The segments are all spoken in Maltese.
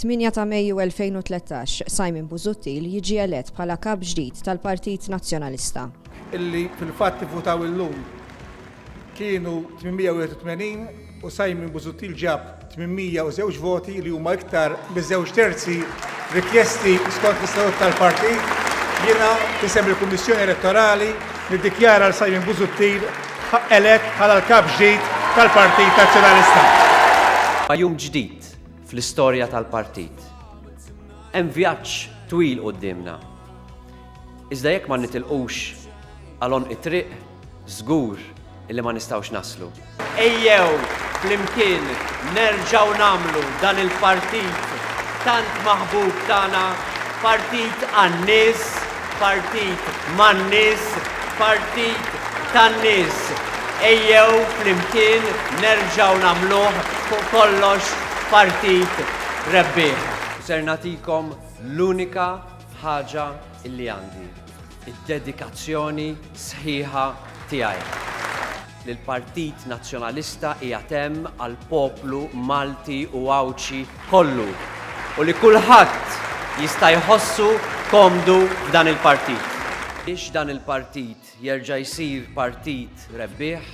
8 ta' Mejju 2013, Simon Busuttil jiġi elett bħala Kap ġdid tal-Partit Nazzjonalista. illi fil-fatt ivvutaw illum kienu 881 u Simon Busuttil ġab 802 voti li huma iktar miż-żewġ terzi rikjesti skont l-istatut tal-partit, jiena f'isem il-Kummissjoni Elettorali niddikjara lil Simon Busuttil elett bħala l-Kap ġdid tal-Partit Nazzjonalista. Jum ġdid, fl-istorja tal-Partit. Hemm vjaġġ twil quddiemna. Iżda jekk ma nitilqux għal għonq it-triq, żgur li ma nistgħux naslu. Ejjew flimkien nerġgħu nagħmlu dan il-Partit tant maħbub tagħna, Partit għan-nies, Partit man-nies, partit tan-nies. Ejjew flimkien nerġgħu nagħmluh fuq kollox partit rebbieħ. U ser nagħtikom l-unika ħaġa li għandi, id-dedikazzjoni sħiħa tiegħi. li l-Partit Nazzjonalista qiegħed hemm għall-poplu Malti u Għawdxi kollu u li kulħadd jista' jħossu komdu f'dan il-partit. Biex dan il-partit jerġa' jsir partit rebbieħ,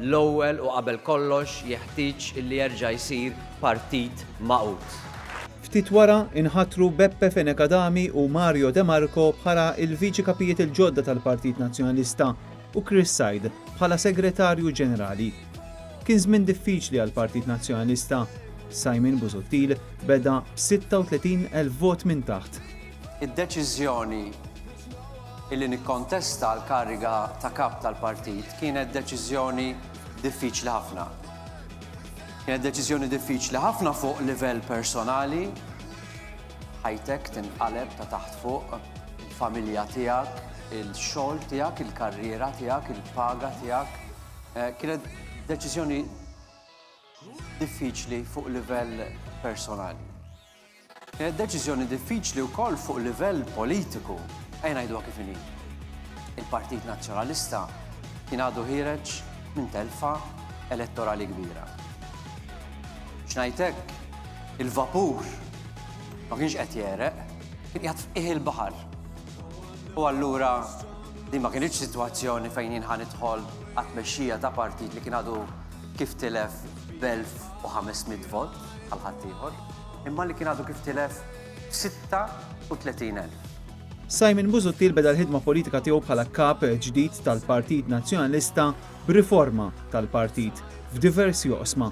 l-ewwel u qabel kollox jeħtieġ li jerġa' jsir partit magħqud. Ftit wara, inħatru Beppe Fenech Adami u Mario De Marco bħala l-Viċi Kapijiet il-ġodda tal-Partit Nazzjonalista. u Chris Said bħala Segretarju Ġenerali. Kien żmien diffiċli għall-Partit Nazzjonalista. Simon Busuttil beda b'36,000 vot minn taħt. Id-deċiżjoni illi nikkontesta l-kariga ta' Kap tal-Partit kienet deċiżjoni diffiċli ħafna. Kienet deċiżjoni diffiċli ħafna fuq livell personali, Ħajtek tinqaleb ta' taħt fuq, il-familja tiegħek, il-xogħol tiegħek, il-karriera tiegħek, il-paga tiegħek. Eh, kienet deċiżjoni diffiċli fuq livell personali. Kienet deċiżjoni diffiċli wkoll fuq livell politiku. Ejn ngħidu kif inhi. Il-Partit Nazzjonalista kien għadu ħireġ minn telfa elettorali kbira. X'ngħidlek Il-vapur ma kienx qed jegħreq, kien qiegħed f'qiegħ il-baħar. U allura din ma kinitx sitwazzjoni fejn jien ħa nidħol għat-tmexxija ta' partit li kien għadu kif tilef b'1,500 vot bħal ħaddieħor, imma li kien għadu kif tilef b'36,000. Simon Busuttil beda l-ħidma politika tiegħu bħala kap ġdid tal-Partit Nazzjonalista b'riforma tal-partit f'diversi oqsma.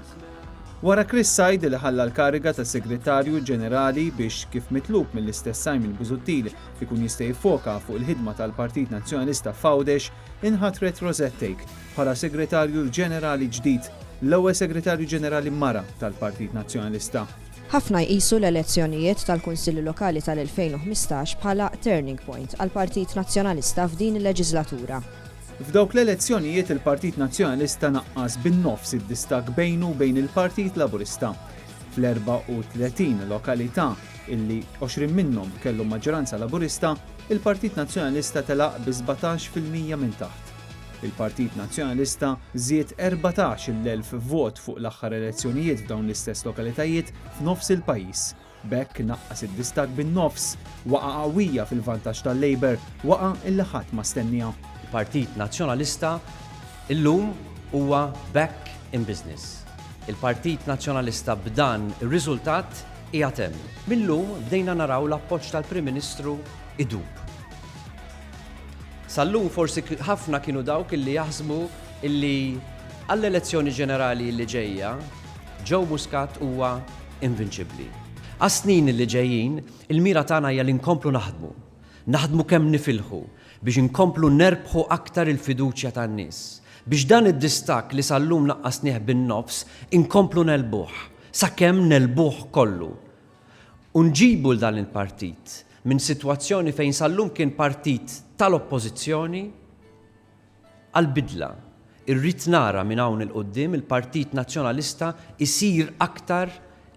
Wara Chris Said li ħalla l-kariga ta' Segretarju Ġenerali biex, kif mitlub mill-istess Simon Busuttil, ikun jista' jiffoka fuq il-ħidma tal-Partit Nazzjonalista f'Għawdex, inħatret Rosette Take bħala Segretarju Ġenerali ġdid, l-ewwel Segretarju Ġenerali mara tal-Partit Nazzjonalista. Ħafna jqisu l-elezzjonijiet tal-Kunsilli Lokali tal-2015 bħala turning point għall-Partit Nazzjonalista f'din il-leġislatura. F'dawk l-elezzjonijiet il-Partit Nazzjonalista naqqas bin-nofs id-distakk bejnu u bejn il-Partit Laburista. Fl-34 lokalità, illi 20 minnhom kellhom maġġoranza Laburista, il-Partit Nazzjonalista telaq bi 17 fil-mija minn taħt. Il-Partit Nazzjonalista żied 14 il-elf vot fuq l-aħħar elezzjonijiet f'dawn l-istess lokalitajiet f'nofs il-pajjiż. B'hekk naqqas id-distakk bin-nofs. Waqgħa qawwija fil-vantaġġ tal-Labour, waqgħa illi ħadd ma stennieha. Il-Partit Nazzjonalista illum huwa back in business. Il-Partit Nazzjonalista b'dan ir-riżultat qiegħed hemm. Mil-lum bdejna naraw l-appoġġ tal-Prim Ministru idub. Sal-lum forsi ħafna kienu dawk illi jaħsbu illi għall-elezzjoni ġenerali illi ġejja, Joe Muscat huwa invinċibbli. Għas-snin li ġejjin, il-mira tagħna hija li nkomplu naħdmu, naħdmu kemm nifilħu biex inkomplu nerbħu aktar il-fiduċja tan-nies, biex dan id-distakk li sal-lum naqqasnieh bin-nofs inkomplu negħlbuh, sakemm negħlbuh kollu. U nġibu 'l dan il-partit minn sitwazzjoni fejn sal-lum kien partit tal-Oppożizzjoni, għall-bidla. Irrid nara minn hawn 'il quddiem il-Partit Nazzjonalista jsir aktar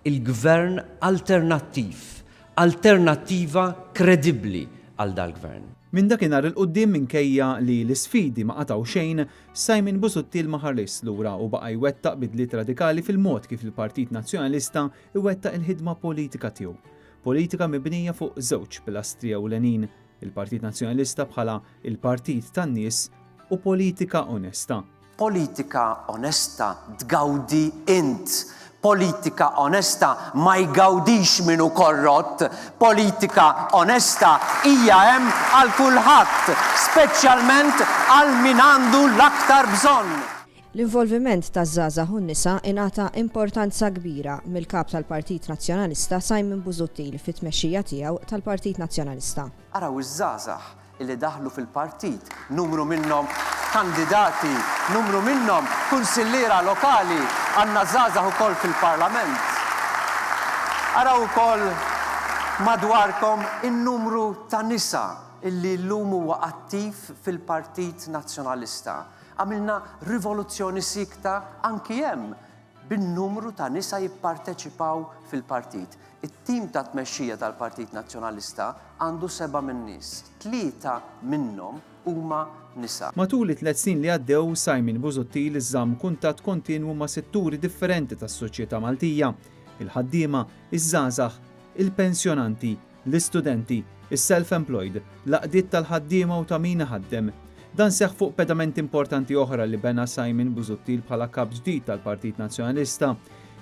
il-Gvern alternattiv, alternattiva kredibbli għal dal-Gvern. Minn dakinhar 'il quddiem minkejja li l-isfidi ma qatgħu xejn, Simon Busuttil ma ħarisx lura u baqa' jwettaq bidliet radikali fil-mod kif il-Partit Nazzjonalista jwettaq il-ħidma politika tiegħu. Politika mibnija fuq żewġ pilastri ewlenin, Il-Partit Nazzjonalista bħala l-partit tan-nies u politika onesta. Politika onesta tgawdi int. Politika onesta ma jgawdix min hu korrott. Politika onesta hija hemm għal kulħadd, speċjalment għal min għandu l-aktar bżonn. L-involviment taż-żgħażagħ u n-nisa ingħata importanza kbira mill-Kap tal-Partit Nazzjonalista Simon Busuttil fit-tmexxija tiegħu tal-Partit Nazzjonalista. Araw iż-żgħażagħ li daħlu fil-Partit, numru minnhom kandidati, numru minnhom kunsilliera lokali, għandna żgħażagħ ukoll fil-Parlament. Araw ukoll madwarkom in-numru ta' nisa li llum huwa attiv fil-Partit Nazzjonalista. Għamilna rivoluzzjoni siekta anki hemm bin-numru ta' nisa jipparteċipaw fil-partit. It-tim ta' tmexxija tal-Partit Nazzjonalista għandu seba' min-nies, tlieta minnhom huma nisa. Matul it-tliet snin li għaddew, Simon Busuttil żamm kuntatt kontinwu ma' setturi differenti tas-soċjetà Maltija, il-ħaddiema, iż-żgħażagħ, il-pensjonanti, l-istudenti, is-self-employed, l-għaqdiet tal-ħaddiema u ta' min iħaddem. Dan seħħ fuq pedamenti importanti oħra li bena Simon Busuttil bħala Kap ġdid tal-Partit Nazzjonalista,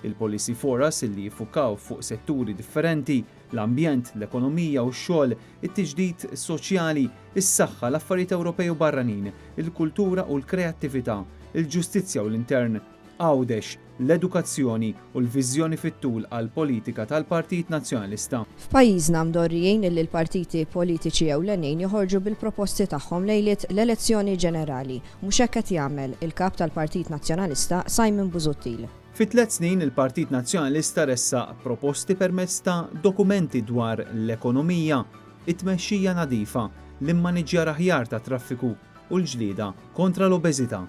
il-policy foras li jiffukaw fuq setturi differenti, l-ambjent, l-ekonomija u x-xogħol, it-tiġdid soċjali, is-saħħa, l-affarijiet Ewropej u barranin, il-kultura u l-kreattività, il-ġustizzja u l-intern. Għawdex, l-edukazzjoni u l-viżjoni fit-tul għall-politika tal-Partit Nazzjonalista. F'pajjiżna mdorrijin illi l-partiti politiċi ewlenin joħorġu bil-proposti tagħhom lejliet l-elezzjoni ġenerali. Mhux hekk qed jagħmel il-Kap tal-Partit Nazzjonalista Simon Busuttil. Fi tliet snin il-Partit Nazzjonalista ressaq proposti permezz ta' dokumenti dwar l-ekonomija, it-tmexxija nadifa, l-immaniġġjar aħjar tat-traffiku u l-ġlieda kontra l-obeżità.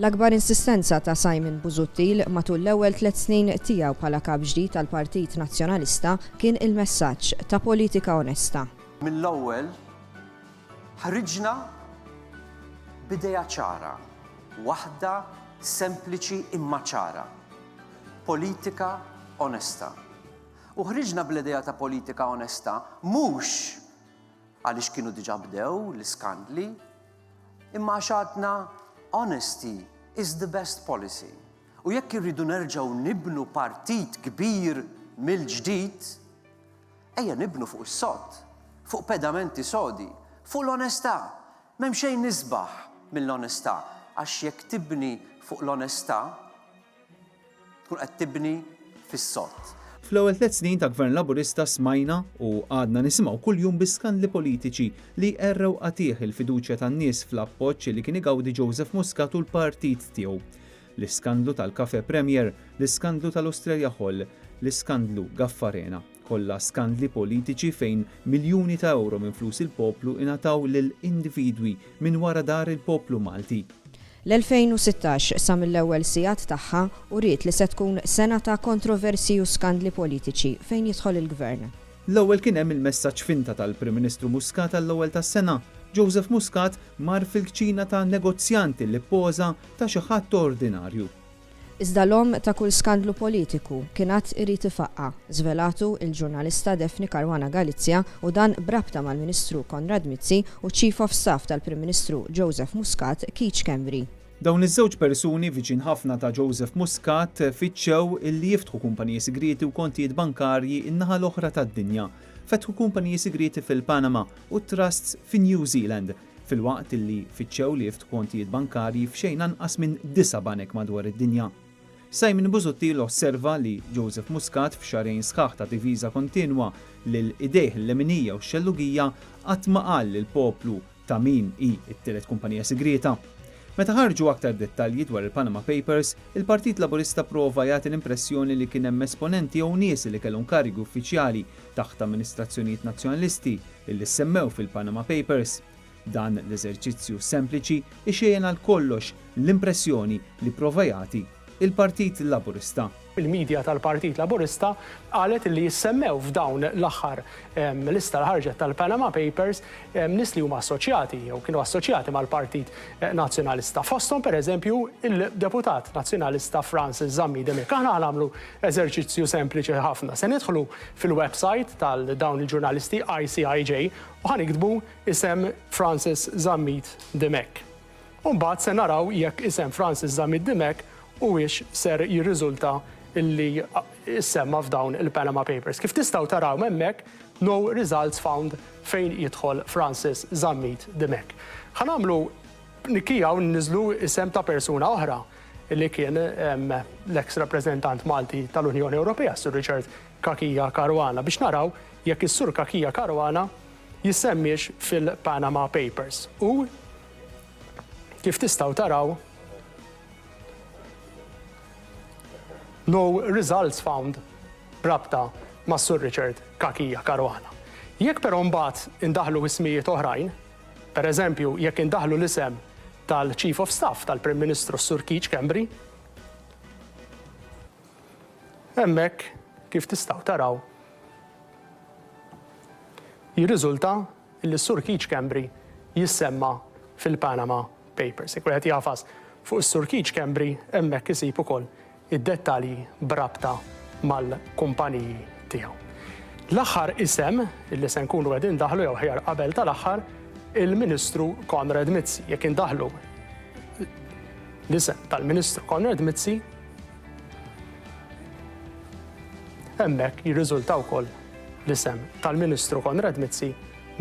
L-akbar insistenza ta' Simon Busuttil matul l-ewwel tliet snin tiegħu bħala Kap ġdid tal-Partit Nazzjonalista kien il-messaġġ ta' politika onesta. Mill-ewwel ħriġna b'idea ċara, waħda sempliċi imma ċara, politika onesta. U ħriġna bl-idea ta' politika onesta mhux għaliex kienu diġà bdew l-iskandli, Imma għax għadna honesty is the best policy u jekk irridu nerġgħu nibnu partit kbir mill-ġdid, ejja nibnu fuq is-sod, fuq pedamenti sodi, fuq l-onestà. M'hemm xejn isbaħ mill-onestà għax jekk tibni fuq l-onestà, Tkun qed tibni fis-sod. Fl-ewwel tliet snin ta' Gvern Laburista smajna u għadna nisimgħu kuljum bi skandli politiċi li jqerrew qatigħ il-fiduċja tan-nies fl-appoġġ li kien igawdi Joseph Muscat u l-partit tiegħu. L-iskandlu tal-Cafe Premier, l-iskandlu tal-Australia Hall, l-iskandlu Gaffarena. Kollha skandli politiċi fejn miljuni ta' ewro minn flus il-poplu ingħataw lil individwi minn wara dahar il-poplu Malti. L-2016, sa mill-ewwel sigħat tagħha, uriet li se tkun sena ta' kontroversji u skandli politiċi fejn jidħol il-Gvern. L-ewwel kien hemm il-messaġġ finta tal-Prim Ministru Muscat għall-ewwel tas-sena. Joseph Muscat mar fil-kċina ta' negozjant li ppoża ta' xi ħadd ordinarju. Iżda l-omm ta' kull skandlu politiku kien għad irid ifaqqa', żvelatu l-ġurnalista Daphne Caruana Galizia u dan b'rabta mal-Ministru Konrad Mizzi u ċ-Chief of Staff tal-Prim Ministru Joseph Muscat, Keith Schembri. Dawn iż-żewġ persuni viċin ħafna ta' Joseph Muscat fittxew li jiftħu kumpaniji sigrieti u kontijiet bankarji n-naħa l-oħra tad-dinja. Fetħu kumpaniji sigrieti fil-Panama u trusts fin-New Zealand. filwaqt li fittxew li jiftħu kontijiet bankarji f'xejn anqas minn disa' banek madwar id-dinja. Simon Busuttil osserva li Joseph Muscat f'xahrejn sħaħ ta' diviża kontinwa lil idejh l-leminija u x-xellugija qatt ma qal lill-poplu ta' min hi t-tielet kumpanija sigrieta. Meta ħarġu aktar dettalji dwar il-Panama Papers, il-Partit Laburista pprova jagħti l-impressjoni li kien hemm esponenti jew nies li kellhom karigi uffiċjali taħt amministrazzjonijiet Nazzjonalisti li ssemmew fil-Panama Papers. Dan l-eżerċizzju sempliċi ixejjen għal kollox l-impressjoni li pprova jagħti l-Partit Laburista. Il-media tal-Partit Laburista qalet li ssemmew f'dawn l-aħħar lista li ħarġet tal-Panama Papers nies li huma assoċjati jew kienu assoċjati mal-Partit Nazzjonalista. Fosthom pereżempju il-Deputat Nazzjonalista Francis Zammit Demic. Aħna ħa nagħmlu eżerċizzju sempliċi ħafna. Se nidħlu fil-websajt tal dawn il-ġurnalisti ICIJ u ħa niktbu isem Francis Zammit Dimech. U mbagħad se naraw jekk isem Francis Zammit Dimech huwiex ser jirriżulta li issemma f'dawn il-Panama Papers. Kif tistgħu taraw hemmhekk No Results Found fejn jidħol Francis Zammit Dimech. Ħa nagħmlu nikkija u nniżlu isem ta' persuna oħra. li kien l-eks rappreżentant Malti tal-Unjoni Ewropea, Sur Richard Cachia Caruana, biex naraw jekk is-Sur Cachia Caruana jissemmiex fil-Panama Papers. U kif tistgħu taraw no results found rabta ma' Sur Richard Cachia Caruana. Jekk però mbagħad indaħlu ismijiet oħrajn, Pereżempju, jekk indaħħlu l-isem tal-Chief of Staff tal-Prim Ministru s-Sur Keith Schembri, hemmhekk kif tistgħu taraw jirriżulta li s-Sur Keith Schembri jissemma fil-Panama Papers. Jekk wieħed jagħfas fuq is-Sur Keith Schembri hemmhekk isib ukoll id-dettalji b'rabta mal-kumpaniji tiegħu. L-aħħar isem li se nkunu qed indaħħlu jew aħjar qabel tal-aħħar il-Ministru Konrad Mizzi. Jekk indaħħlu l-isem tal-Ministru Konrad Mizzi, hemmhekk jirriżulta wkoll l-isem tal-Ministru Konrad Mizzi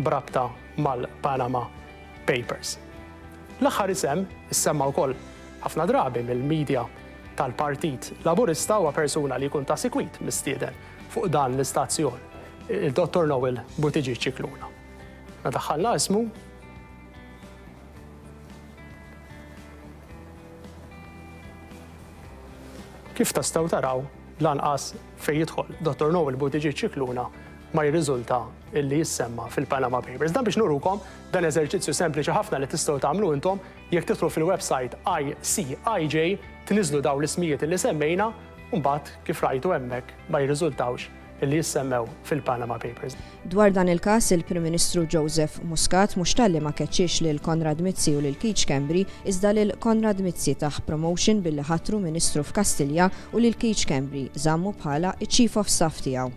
brabta mal-Panama Papers. L-aħħar isem issemma wkoll ħafna drabi mill-medja tal-Partit Laburista huwa persuna li jkun ta' sikwit mistieden fuq dan l-istazzjon, il-Dottor Noel Buttigieg Scicluna. Meta daħħalna ismu, kif tistgħu taraw lanqas fejn jidħol Dottor Noel Buttigieg Scicluna ma jirriżulta illi jissemma fil-Panama Papers. Dan biex nurukom dan eżerċizzju sempliċi ħafna li tistgħu tagħmlu intom Jekk tidħlu fil-website ICIJ tniżżlu dawn l-ismijiet illi semmejna u mbagħad kif rajtu hemmhekk ma jirriżultawx illi jissemmew fil-Panama Papers. Dwar dan il-każ, il-Prim Ministru Joseph Muscat mhux talli ma keċċiex lil Konrad Mizzi u lil Keith Schembri iżda lil Konrad Mizzi tah promotion billi ħatru Ministru f'Kastilja u lil Keith Schembri żammu bħala ċ-Chief of Staff tiegħu.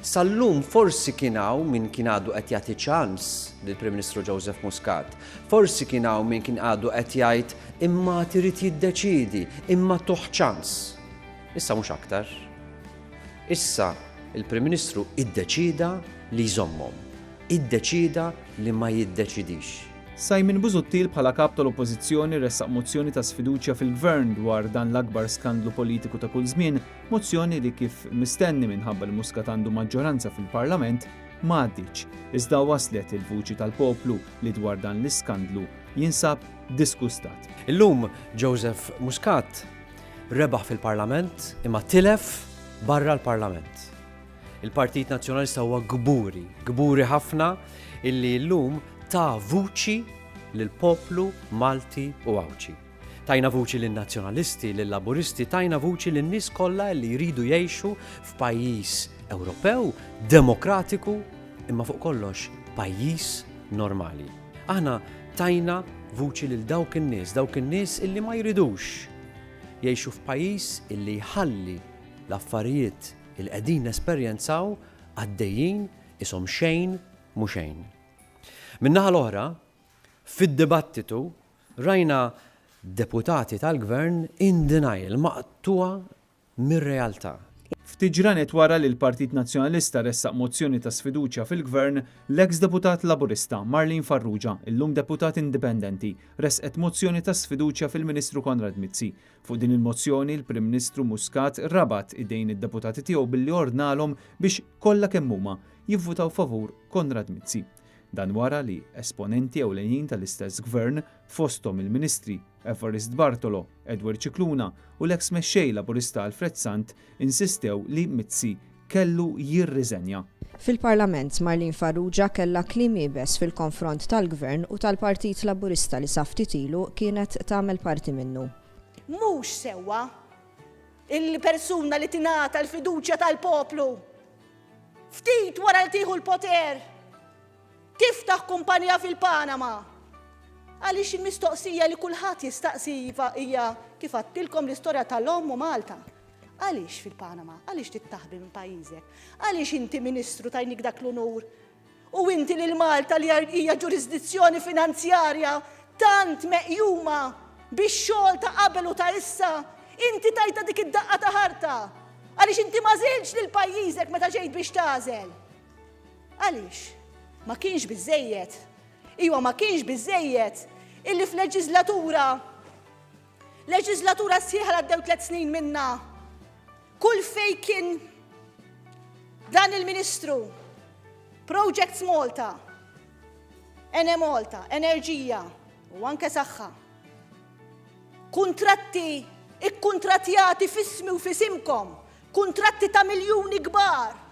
Sal-lum forsi kien hawn min kien għadu qed jagħti ċans lill-Prim Ministru Joseph Muscat. Forsi kien hawn min kien għadu qed jgħid immat irid jiddeċiedi, imma tuh ċans. Issa mhux aktar. Issa il-Prim Ministru iddeċieda li jżommhom. Iddeċieda li ma jiddeċidix. Simon Busuttil bħala Kap tal-Oppożizzjoni ressaq mozzjoni ta' sfiduċja fil-Gvern dwar dan l-akbar skandlu politiku ta' kull żmien Mozzjoni li kif mistenni minħabba li Muscat għandu maġġoranza fil-Parlament, ma għaddietx, iżda waslet il-vuċi tal-poplu li dwar dan l-iskandlu jinsab disgustat. Illum Joseph Muscat rebaħ fil-Parlament imma tilef barra l-Parlament. Il-Partit Nazzjonalista huwa kburi, kburi ħafna illi llum ta vuċi lill-poplu Malti u Għawdxi. Tajna vuċi lin-Nazzjonalisti, lil-Laburisti, tajna vuċi lin-nies kollha li jridu jgħixu f'pajjiż Ewropew, demokratiku, imma fuq kollox pajjiż normali. Aħna tajna vuċi lil dawk in-nies, dawk in-nies illi ma jridux jgħixu f'pajjiż illi jħalli l-affarijiet il qegħdin nesperjenzaw għaddejjin isom xejn mhu xejn. Min-naħa l-oħra, fid-dibattitu Rajna deputati tal-Gvern in denial, maqtugħa mir-realtà. Ftit ġranet wara li l-Partit Nazzjonalista ressaq mozzjoni ta' sfiduċja fil-Gvern, l-eks deputat Laburista, Marlene Farrugia, illum deputat indipendenti, ressqet mozzjoni ta' sfiduċja fil-Ministru Konrad Mizzi. Fuq din il-mozzjoni, il-Prim Ministru Muscat rabat idejn id-deputati tiegħu billi ordnalhom biex, kollha kemm huma, jivvutaw favur Konrad Mizzi. Dan wara li esponenti ewlenin tal-istess Gvern, fosthom il-Ministri Evarist Bartolo, Edward Scicluna u l-eks Mexxej Laburista Alfred Sant insistew li Mizzi kellu jirriżenja. Fil-Parlament, Marlene Farrugia kellha kliem iebes fil-konfront tal-Gvern u tal-Partit Laburista li sa ftit ilu kienet tagħmel parti minnu. Mhux sewwa li persuna li tingħata l-fiduċja tal-poplu Ftit wara li tieħu l-poter, tiftaħ kumpanija fil-Panama. Għaliex il-mistoqsija li kulħadd jistaqsi iva hija kif għattilkom l-istorja tal-omm u Malta. Għaliex fil-Panama? Għaliex tittaħbi minn pajjiżek? Għaliex inti ministru tajnik dak l-unur U inti lil Malta li hija ġurisdizzjoni finanzjarja tant meqjuma bix-xogħol ta' qabel u ta' issa, inti tajtha dik id-daqqa ta' ħarta għaliex inti ma żiltx lil pajjiżek meta ġejt biex tagħżel. Għaliex? Ma kienx biżżejjed. Iwa ma kienx biżżejjed illi f'leġiżlatura Leġiżlatura sħiħa għaddew tliet snin minna. Kull fej kien dan il-Ministru, Projects Malta, Ene Malta, Enerġija u anke Saħħa. Kuntratti ikkuntratjati fismi u fisimkom, kuntratti ta' miljuni kbar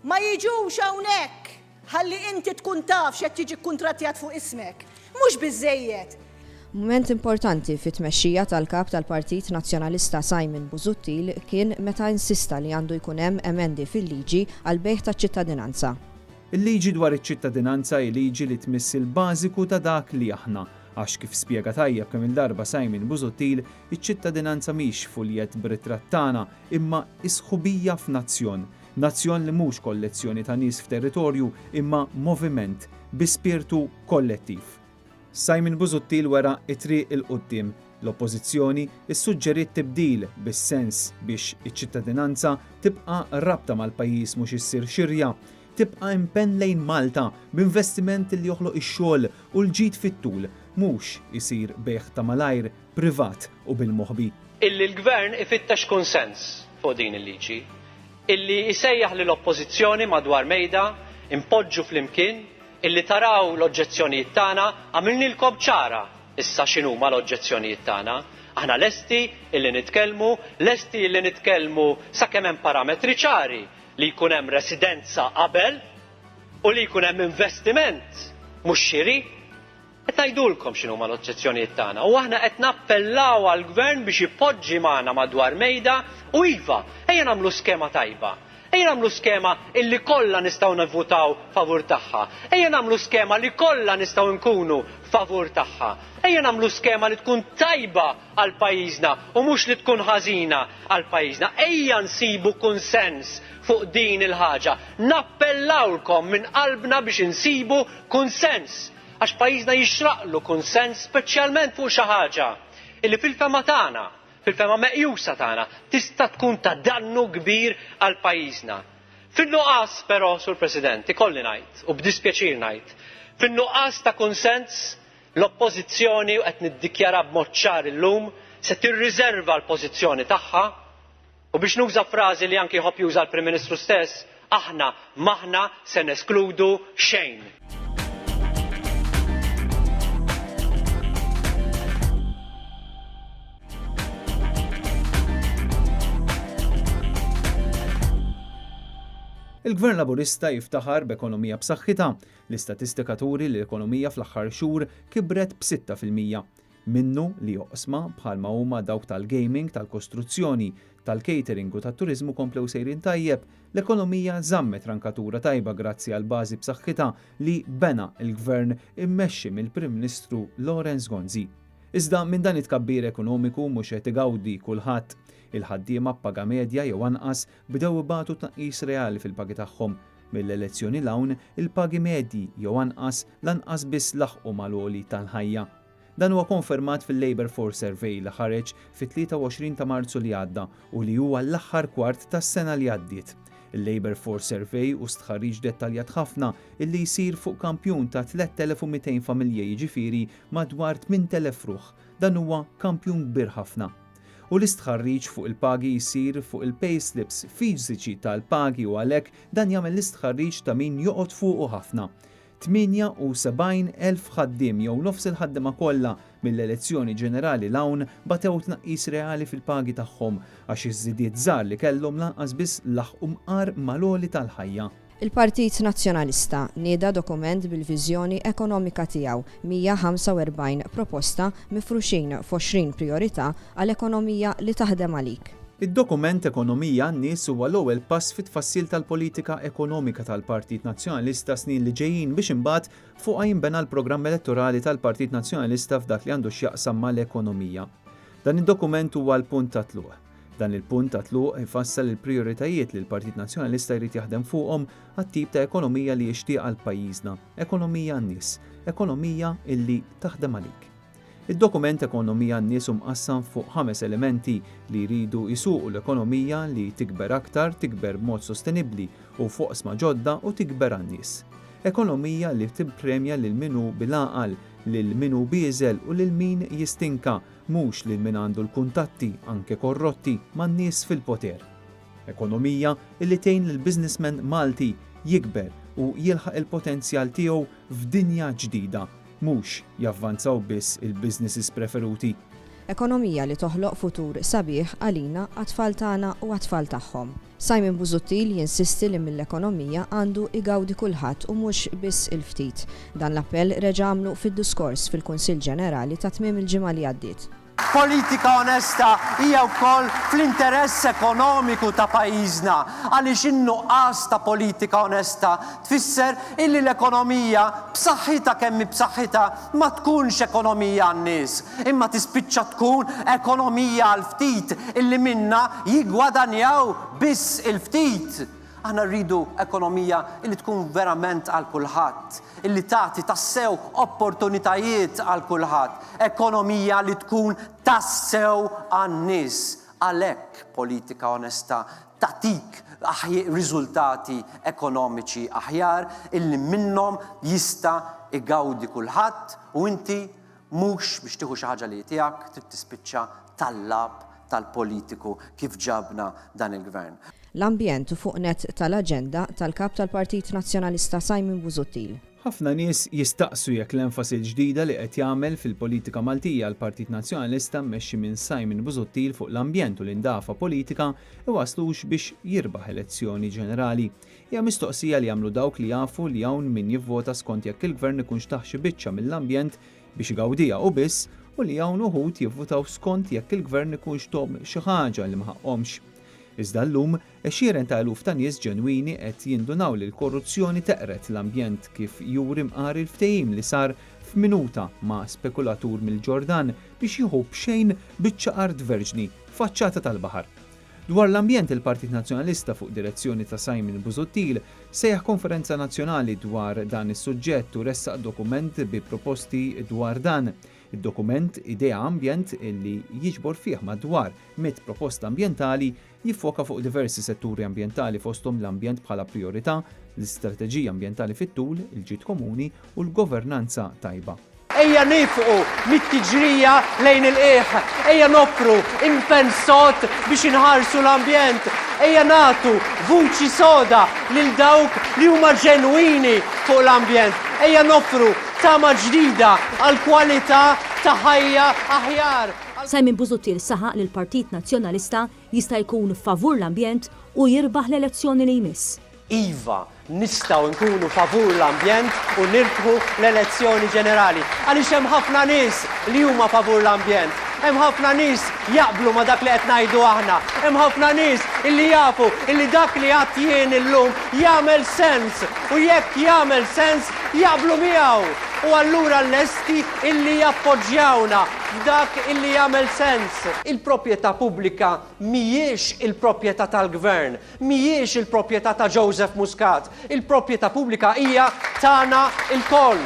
Ma jiġux hawnhekk ħalli inti tkun taf x'qed jiġi kkuntrattjat fuq ismek. Mhux biżżejjed. Mument importanti fit-tmexxija tal-Kap tal-Partit Nazzjonalista Simon Busuttil kien meta insista li għandu jkun hemm emendi fil-liġi għall-bejgħ taċ-ċittadinanza. Il-liġi dwar iċ-ċittadinanza hi liġi li tmiss il-bażiku ta' dak li aħna. Għax kif spjega tajjeb kemm-il darba Simon Busuttil, iċ-ċittadinanza mhix fuljett b'ritratt tagħna, imma hi sħubija f'nazzjon. Nazzjon li mhux kollezzjoni ta' nies f'territorju imma moviment bi spirtu kollettiv. Simon Busuttil wera t-triq 'il quddiem. L-Oppożizzjoni ssuġġeriet tibdil bis-sens biex iċ-ċittadinanza tibqa' rabta mal-pajjiż mhux issir xirja, tibqa' impenn lejn Malta b'investiment li joħloq ix-xogħol u l-ġid fit-tul, mhux isir bejgħ ta' malajr. privat u bil-moħbi. Illi l-Gvern ifittex kunsens fuq din il-liġi. Illi isejjaħ lill-Oppożizzjoni madwar mejda, inpoġġu flimkien, illi taraw l-oġġezzjonijiet tagħna, għamilnielkom ċara issa x'inhuma l-oġġezzjonijiet tagħna. Aħna lesti illi nitkellmu, lesti illi nitkellmu sakemm hemm parametri ċari li jkun hemm residenza qabel u li jkun hemm investiment mhux xiri. Qed ngħidulkom x'inhuma l-oġġezzjonijiet tagħna u aħna qed nappellaw għall-Gvern biex ipoġġi magħna madwar mejda u iva, ejja nagħmlu skema tajba. Ejja nagħmlu skema illi kollha nistgħu nivvutaw favur tagħha. Ejja nagħmlu skema li kollha nistgħu nkunu favur tagħha. Ejja nagħmlu skema li tkun tajba għal pajjiżna u mhux li tkun ħażina għal pajjiżna. Ejja nsibu kunsens fuq din il-ħaġa. Nappellawlkom minn qalbna biex insibu kunsens. Għax pajjiżna jixraqlu kunsens speċjalment fuq xi ħaġa li fil-fehma tagħna, fil-fehma meqjusa tagħna, tista' tkun ta' dannu kbir għal pajjiżna. Fin-nuqqas però, Sur President, ikolli ngħid, u b'dispjaċir ngħid, fin-nuqqas ta' kunsens, l-Oppożizzjoni, u qed niddikjara b'mod ċar illum, se tirriżerva l-pożizzjoni tagħha, U biex nuża frażi li anki jħobb juża l-Prim Ministru stess, aħna m'aħna se neskludu xejn. Il-Gvern Laburista jiftaħar b'ekonomija b'saħħitha. L-istatistika turi li l-ekonomija fl-aħħar xhur kibret b'6 fil-mija. minnu li oqsma bħalma huma dawk tal-gaming, tal-kostruzzjoni, tal-catering u tat-turiżmu komplew sejrin tajjeb, l-ekonomija żammet rankatura tajba grazzi għall-bażi b'saħħitha li bena l-Gvern immexxi mill-Prim Ministru Lawrence Gonzi. Iżda minn dan it-tkabbir ekonomiku mhux qed igawdi kulħadd. Il-ħaddiema b'paga medja jew anqas bdew ibatu tnaqqis reali fil-pagi tagħhom. Mill-elezzjoni 'l hawn, il-pagi medji jew anqas lanqas biss laħqu mal-għoli tal-ħajja. Dan huwa konfermat fil-Labour Force Survey li ħareġ fit-23 ta' Marzu li għadda u li huwa l-aħħar kwart tas-sena li għaddiet. Il-Labour Force Survey hu stħarriġ dettaljat ħafna illi jsir fuq kampjun ta' 3,200 familja jiġifieri madwar 8,000 ruħ. Dan huwa kampjun kbir ħafna. U l-istħarriġ fuq il-pagi jsir fuq il-payslips fiżiċi tal-pagi u għalhekk dan jagħmel l-istħarriġ ta' min joqgħod fuqu ħafna. 78,000 ħaddiem jew nofs il-ħaddiema kollha mill-elezzjoni ġenerali 'l hawn batew tnaqqis reali fil-pagi tagħhom għax iż-żidiet żgħar li kellhom lanqas biss laħqu mqar mal-għoli tal-ħajja. Il-Partit Nazzjonalista nieda dokument bil-viżjoni ekonomika tiegħu, 145 proposta mifruxin f'għoxrin prijorità għal ekonomija li taħdem għalik. Id-dokument Ekonomija għan-Nies huwa l-ewwel pass fit-tfassil tal-politika ekonomika tal-Partit Nazzjonalista s-snin li ġejjin biex imbagħad fuqha jinbena l-programm elettorali tal-Partit Nazzjonalista f'dak li għandu x'jaqsam mal-ekonomija. Dan id-dokument huwa l-punt ta' tluq. Dan il-punt ta' tluq ifassal il-prijoritajiet li l-Partit Nazzjonalista jrid jaħdem fuqhom għat-tip ta' ekonomija li jixtieq għal pajjiżna, ekonomija għan-nies, ekonomija illi taħdem għalik. Id-dokument Ekonomija għan-Nies hu mqassam fuq ħames elementi li jridu jsuqu l-ekonomija li tikber aktar, tikber b'mod sostenibbli u f'oqsma ġodda u tikber għan-nies. Ekonomija li tippremja lil min hu bil-għaqal, lil min hu bieżel u lil min jistinka, mhux lil min għandu l-kuntatti, anke korrotti, man-nies fil-poter. Ekonomija li tgħin lill-businessman Malti jikber u jilħaq il-potenzjal tiegħu f'dinja ġdida, Mhux javvanzaw biss il-businesses preferuti. Ekonomija li toħloq futur sabiħ għalina, għat-tfal tagħna u għat-tfal tagħhom. Simon Busuttil jinsisti li mill-ekonomija għandu igawdi kulħadd u mhux biss il-ftit. Dan l-appell reġa' għamlu fid-duskors fil-Kunsill Ġenerali ta' tmiem il-ġimgħa li għaddiet. Politika onesta hija wkoll fl-interess ekonomiku ta' pajjiżna għaliex in-nuqqas ta' politika onesta tfisser illi l-ekonomija, b'saħħitha kemm hi b'saħħitha, ma tkunx ekonomija għan-nies, imma tispiċċa tkun ekonomija għall-ftit illi minnha jiggwadanjaw biss il-ftit. Aħna rridu ekonomija li tkun verament għal kulħadd, li tagħti tassew opportunitajiet għal kulħadd, ekonomija li tkun tassew għan-nies. Għalhekk politika onesta tagħtik riżultati ekonomiċi aħjar illi minnhom jista' igawdi kulħadd u inti Mhux biex tieħu xi ħaġa li hi tiegħek trid tispiċċa tal-lagħab tal-politiku kif ġabna dan il-Gvern. L-ambjent hu fuq nett tal-aġenda tal-Kap tal-Partit Nazzjonalista Simon Busuttil. Ħafna nies jistaqsu jekk l-enfasi l-ġdida li qed jagħmel fil-politika Maltija l-Partit Nazzjonalista mmexxi minn Simon Busuttil fuq l-ambjent u l-indafa politika iwasslux biex jirbaħ elezzjoni ġenerali. Hija mistoqsija li jagħmlu dawk li jafu li hawn min jivvota skont jekk il-Gvern ikunx tah xi biċċa mill-ambjent biex igawdiha u biss u li hawn uħud jivvutaw skont jekk il-Gvern ikunx thom xi ħaġa li ma ħaqqhomx. Iżda llum, għexieren ta' eluf ta' nies ġenwini qed jindunaw li l-korruzzjoni teqred l-ambjent kif juri mqari l-ftehim li sar f'minuta ma' spekulatur mill-Ġordan biex jieħu b'xejn biċċa art verġni faċċata tal-baħar. Dwar l-ambjent il-Partit Nazzjonalista fuq direzzjoni ta' Simon Busuttil sejjaħ konferenza nazzjonali dwar dan is-suġġett u ressaq dokument bi proposti dwar dan. Id-dokument Idea Ambjent li jiġbor fih madwar mitt proposta ambjentali jiffoka fuq diversi setturi ambjentali fosthom l-ambjent bħala prijorità, l-istrateġija ambjentali fit-tul, il-ġid komuni u l-governanza tajba. Ejja nifqu mit-tiġrija lejn il-qiegħ, ejja noffru impenn sod biex inħarsu l-ambjent, ejja nagħtu vuċi soda lil dawk li huma ġenwini fuq l-ambjent, ejja noffru tama ġdida għal kwalità ta' ħajja aħjar. Simon Busuttil saħaq li l-Partit Nazzjonalista jista' jkun favur l-ambjent u jirbaħ l-elezzjoni li jmiss. Iva, nistgħu nkunu favur l-ambjent u nirbħu l-elezzjoni ġenerali. Għaliex hemm ħafna nies li huma favur l-ambjent. Hemm ħafna nies jaqblu ma' dak li qed ngħidu aħna. Hemm ħafna nies illi jafu illi dak li għadt jien illum jagħmel sens u jekk jagħmel sens jaqblu miegħu u allura lesti illi jappoġġjawna f'dak illi jagħmel sens. Il-proprjetà pubblika mhijiex il-proprjetà tal-Gvern. Mhijiex il-proprjetà ta' Joseph Muscat, il-proprjetà pubblika hija tagħna lkoll.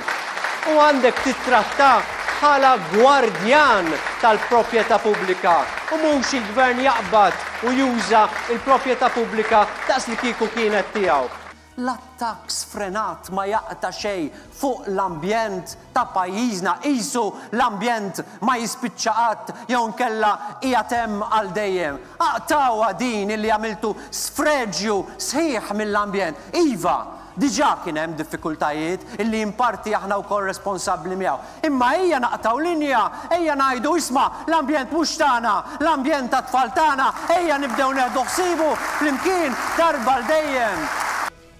U għandek tittrattah bħala gwardjan tal-proprjetà pubblika u mhux il-Gvern jaqbad u juża l-proprjetà pubblika daqslikieku kienet tiegħu. L-attakk sfrenat ma jaqta' xejn fuq l-ambjent ta' pajjiżna, qisu l-ambjent ma jispiċċa qatt jew inkella qiegħed hemm għal dejjem. Aqtgħuha din illi għamiltu sfreġju sħiħ mill-ambjent. Iva, diġà kien hemm diffikultajiet illi in parti aħna wkoll responsabbli miegħu. Imma ejja naqtgħu linja, ejja ngħidu, isma', l-ambjent mhux tagħna, l-ambjent tat-tfal tagħna, ejja nibdew neħdu ħsiebu flimkien darba għal dejjem.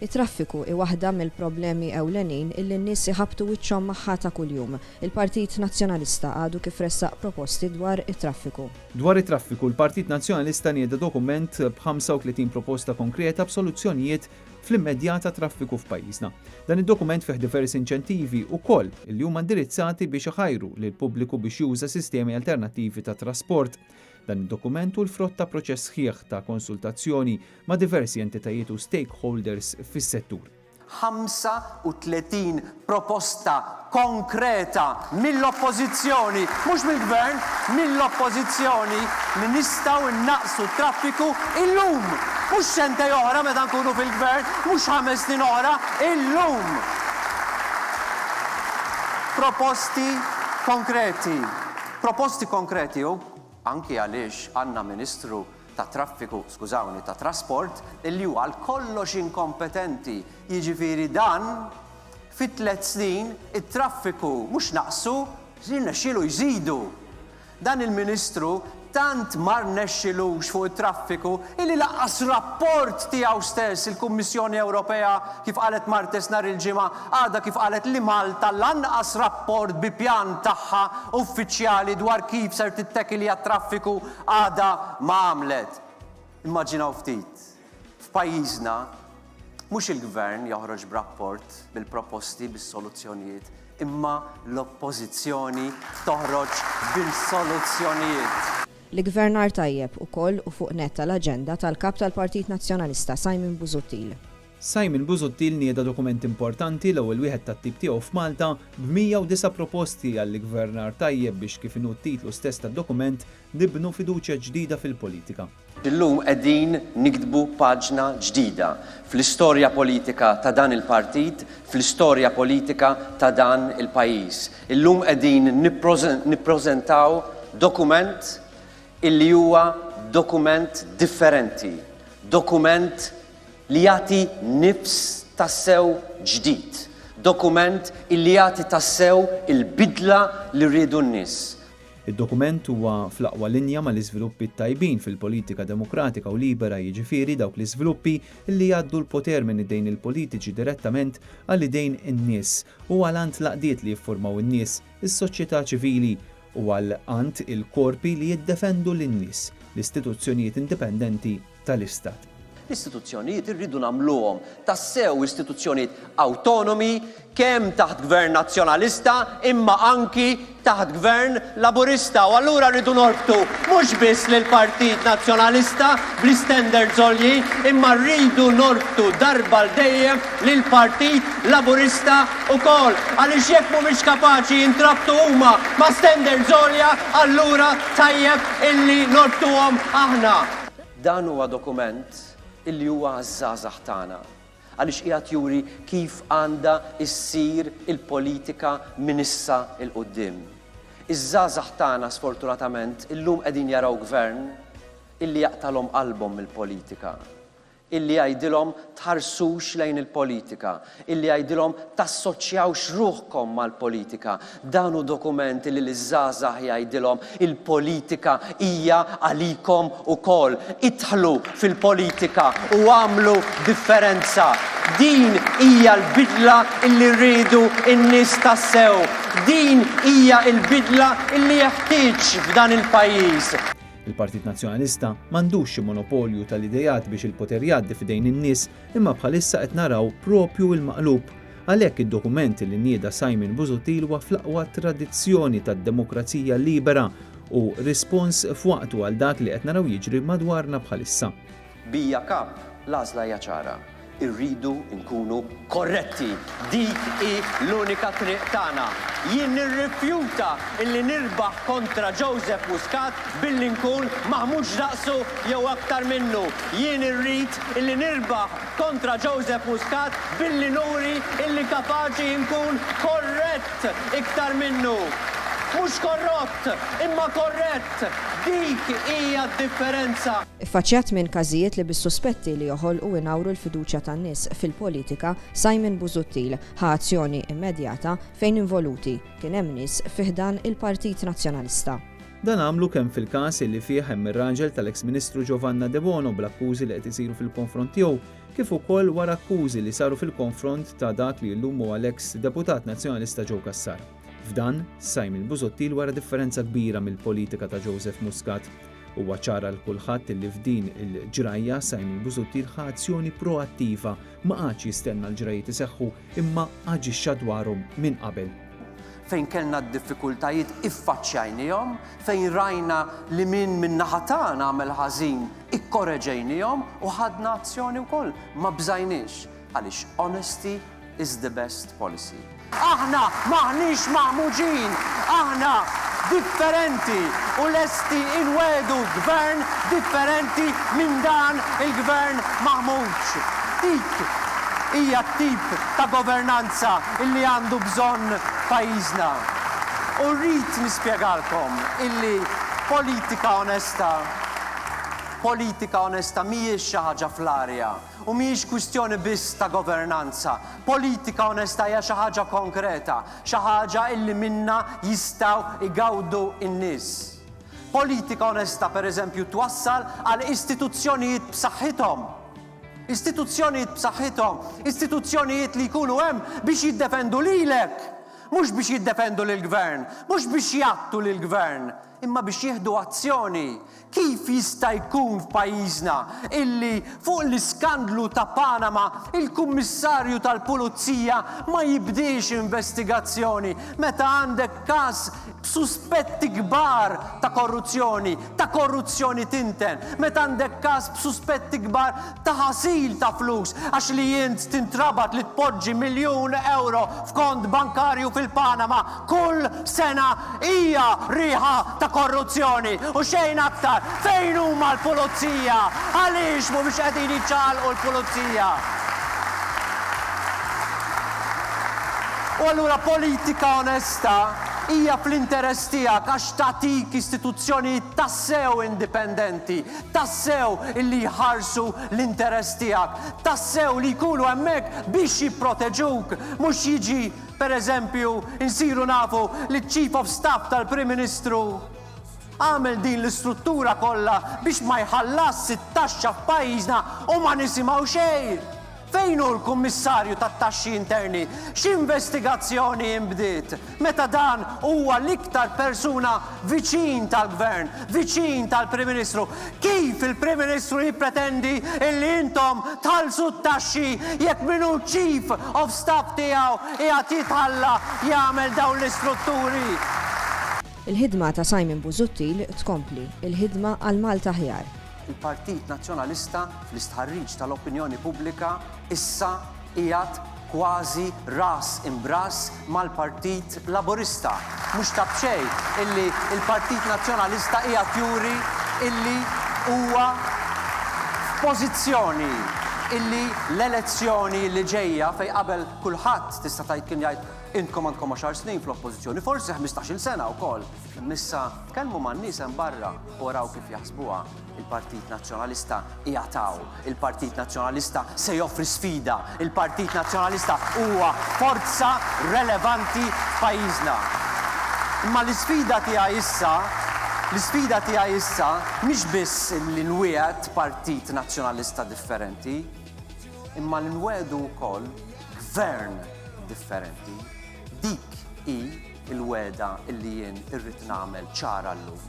It-traffiku hi waħda mill-problemi ewlenin illi n-nies iħabbtu wiċċhom magħha ta' kuljum. Il-Partit Nazzjonalista għadu kif ressaq proposti dwar it-traffiku. Dwar it-traffiku, l-Partit Nazzjonalista nieda dokument b' 35 proposta konkreta b'soluzzjonijiet fl-immedjata traffiku f'pajjiżna. Dan id-dokument fih diversi inċentivi wkoll li huma indirizzati biex iħajru lill-pubbliku biex juża sistemi alternattivi ta' trasport. Dan id-dokument hu l-frott ta' proċess sħiħ ta' konsultazzjoni ma' diversi entitajiet u stakeholders fis-settur. 35 proposta konkreta mill-Oppożizzjoni, mhux mill-Gvern, mill-Oppożizzjoni li nistgħu nnaqqsu t-traffiku illum, mhux sentej oħra meta nkunu fil-Gvern, mhux ħames snin oħra, illum! Proposti konkreti. Proposti konkreti u anki għaliex għandna Ministru tat-traffiku, skużawni, tat-trasport, li hu għal kollox inkompetenti, jiġifieri dan, fi tliet snin it-traffiku mhux naqsu, rnexxielu jżidu. Dan il-Ministru tant ma rnexxilux fuq it-traffiku illi lanqas rapport tiegħu stess il-Kummissjoni Ewropea, kif qalet Martes nhar il-Ġimgħa, għadha kif qalet li Malta lanqas rapport bi pjan tagħha uffiċjali dwar kif ser tittekilja t-traffiku Għadha ma għamlet! Immaġinaw ftit, f'pajjiżna, mhux il-Gvern joħroġ b'rapport bil-proposti, bis-soluzzjonijiet, imma l-Oppożizzjoni toħroġ bil-soluzzjonijiet! L-iggvernar tajjeb ukoll hu fuq nett tal-aġenda tal-Kap tal-Partit Nazzjonalista, Simon Busuttil. Simon Busuttil nieda dokument importanti, l-ewwel wieħed tat-tip tiegħu f'Malta, b'109 proposti għall-iggvernar tajjeb biex kif inhu t-titlu stess tad-dokument, nibnu fiduċja ġdida fil-politika. Illum qegħdin niktbu paġna ġdida fl-istorja politika ta' dan il-partit, fl-istorja politika ta' dan il-pajjiż. Illum qegħdin nippreżentaw dokument illi huwa dokument differenti, dokument, li jagħti nifs tassew ġdid, dokument illi jagħti tassew il-bidla li riedu n-nies. Id-dokument huwa fl-aqwa linja mal-iżviluppi t-tajbin fil-politika demokratika u libera, jiġifieri dawk l-iżviluppi illi jgħaddu l-poter minn idejn il-politiċi direttament għal idejn in-nies u għal għand l-għaqdiet li jiffurmaw in-nies, is-soċjetà ċivili, u għal għand il-korpi li jiddefendu lin-nies, l-istituzzjonijiet indipendenti, tal-Istat. L-istituzzjonijiet irridu nagħmluhom tassew istituzzjonijiet awtonomi kemm taħt Gvern Nazzjonalista imma anki taħt Gvern Laburista u allura rridu norbtu mhux biss lill-Partit Nazzjonalista bl-istandards għoljin imma rridu norbtu darba għal dejjem lill-Partit Laburista wkoll għaliex jekk mhumiex kapaċi jintrabtu huma ma' standards għolja allura tajjeb illi norbtuhom aħna. Dan huwa dokument li huwa għaż-żgħażagħ tagħna għaliex qiegħed juri kif għandha ssir il-politika minn issa 'l quddiem. Iż-żgħażagħ tagħna sfortunatament illum qegħdin jaraw Gvern illi jaqtagħlhom qalbhom mill-politika. illi jgħidilhom tħarsux lejn il-politika, illi jgħidilhom tassoċjawx ruħkom mal-politika. Dan hu dokument illi liż-żgħażagħ jgħidilhom il-politika hija għalikom ukoll. Idħlu fil-politika u agħmlu differenza. Din hija l-bidla illi rridu n-nies tassew. Din hija l-bidla illi jeħtieġ f'dan il-pajjiż. Il-Partit Nazzjonalista m'għandux xi monopolju tal-ideat biex il-poter jgħaddi f'idejn in-nies imma bħalissa qed naraw proprju il-maqlub. Għalhekk id-dokument li nieda Simon Busuttil huwa fl-aqwa tradizzjoni tad-demokrazija libera u rispons f'waqtu għal dak li qed naraw jiġri madwarna bħalissa. Bija Cup, l-għażla hija ċara. Irridu nkunu korretti. Dik hi l-unika triq tagħna. Jien nirrifjuta illi nirbaħ kontra Joseph Muscat billi nkun maħmuġ daqsu jew aktar minnu. Jien irrid illi nirbaħ kontra Joseph Muscat billi nuri illi kapaċi nkun korrett iktar minnu. Mhux korrott, imma korrett. Dik hija d-differenza. Iffaċċjat minn każijiet li bis-suspetti li joħolqu u jnawru l-fiduċja tan-nies fil-politika, Simon Busuttil ħa azzjoni immedjata fejn involuti kien hemm nies fi ħdan il-Partit Nazzjonalista. Dan għamlu kemm fil-każ li fih hemm ir-raġel tal-eks Ministru Giovanna Debono bl-akkużi li qed isiru fil-konfront tiegħu kif ukoll wara akkużi li saru fil-konfront ta' dak li llum huwa l-eks Deputat Nazzjonalista Joe Cassar. F'dan, Simon Busuttil wera differenza kbira mill-politika ta' Joseph Muscat. Huwa ċar għal kulħadd li f'din il-ġrajja Simon Busuttil ħa azzjoni proattiva, ma qagħadx jistenna l-ġrajjiet iseħħu imma aġixxa dwarhom minn qabel. Fejn kellna d-diffikultajiet iffaċċjajniehom, fejn rajna li min min-naħa tagħna għamel ħażin ikkoreġejniehom u ħadna azzjoni wkoll, ma bżajniex. Għaliex honesty is the best policy. Aħna m'aħniex maħmuġin, aħna differenti u lesti inwegħdu Gvern differenti minn dan il-Gvern maħmuġ. Dik hija t-tip ta' governanza illi għandu bżonn pajjiżna. U rrid nispjegalkom illi politika onesta, politika onesta mhijiex xi ħaġa fl-arja. U mhijiex kwistjoni biss ta' governanza. Politika onesta hija xi ħaġa konkreta, xi ħaġa li minnha jistgħu jgawdu n-nies. Politika onesta, per eżempju, twassal għal istituzzjonijiet b'saħħithom. Istituzzjonijiet b'saħħithom, istituzzjonijiet li jkunu hemm biex jiddefendu lilek, mhux biex jiddefendu lill-Gvern, mhux biex jgħattu lill-Gvern. Imma biex jieħdu azzjoni, kif jista' jkun f'pajjiżna illi fuq l-iskandlu ta' Panama il-Kummissarju tal-Pulizija ma jibdiex investigazzjoni meta għandek każ b'suspetti kbar ta' korruzzjoni, ta' korruzzjoni tinten, meta għandek każ b'suspetti kbar ta' ħasil ta' flus għax li int tintrabat li tpoġġi miljun ewro f'kont bankarju fil-Panama kull sena hija riħa ta' korruzzjoni u xejn aktar. Fejn huma l-pulizija? Għaliex mhumiex qegħdin jiċċaqalqu l-pulizija? U allura politika onesta hija fl-interess tiegħek għax tagħtik istituzzjonijiet tassew indipendenti, tassew li jħarsu l-interess tiegħek, tassew li jkunu hemmhekk biex jipproteġuk, mhux jiġi, per eżempju, insiru nafu li ċ-Chief of Staff tal-Prim Ministru għamel din l-istruttura kollha biex ma jħallasx it-taxxa f'pajjiżna u ma nisimgħu xejn! Fejn hu l-Kummissarju tat-Taxxi Interni? X'investigazzjoni inbdiet, meta dan huwa l-iktar persuna viċin tal-Gvern, viċin tal-Prim Ministru? Kif il-Prim Ministru jippretendi illi intom tħallsu t-taxxi jekk min hu ċ-Chief of Staff tiegħu qiegħed jitħalla jagħmel dawn l-istrutturi? Il-ħidma ta' Simon Busuttil tkompli, il-ħidma għal Malta aħjar. Il-Partit Nazzjonalista fl-istħarriġ tal-opinjoni pubblika issa qiegħed kważi ras imbrass mal-Partit Laburista. Mhux ta' b'xejn illi l-Partit Nazzjonalista qiegħed juri illi huwa f'pożizzjoni illi l-elezzjoni li ġejja fejn qabel kulħadd tista' tgħid kien jgħid intkom għandkom għaxar snin fl-Oppożizzjoni, forsi ħmistax-il sena wkoll, Missa tkellmu man-nies hemm barra u araw kif jaħsbuha. Il-Partit Nazzjonalista qiegħed hawn. Il-Partit Nazzjonalista se joffri sfida. Il-Partit Nazzjonalista huwa forza relevanti f'pajjiżna. Imma l-isfida tiegħi issa, l-isfida tiegħi issa mhix biss li nwiegħed Partit Nazzjonalista differenti, imma li nwegħdu wkoll Gvern differenti. Dik hi il-wegħda illi jien irrid nagħmel ċara llum,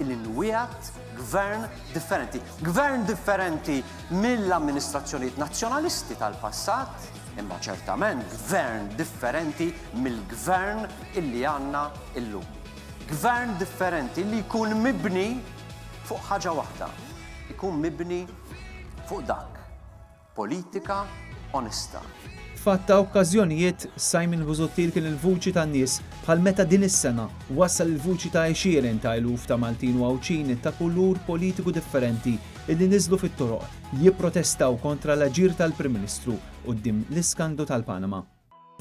illi nwiegħed Gvern differenti. Gvern differenti mill-amministrazzjonijiet nazzjonalisti tal-passat, imma ċertament Gvern differenti mill-Gvern illi għandna illum. Gvern differenti li jkun mibni fuq ħaġa waħda, jkun mibni fuq dak Politika onesta. F'għadd ta' okkażjonijiet, Simon Busuttil kien il-vuċi tan-nies, bħal meta din is-sena wassal il-vuċi ta' għexieren ta' eluf ta' Maltin u Għawdxin ta' kulur politiku differenti illi niżlu fit-toroq jipprotestaw kontra l-aġir tal-Prim Ministru quddiem l-iskandlu tal-Panama.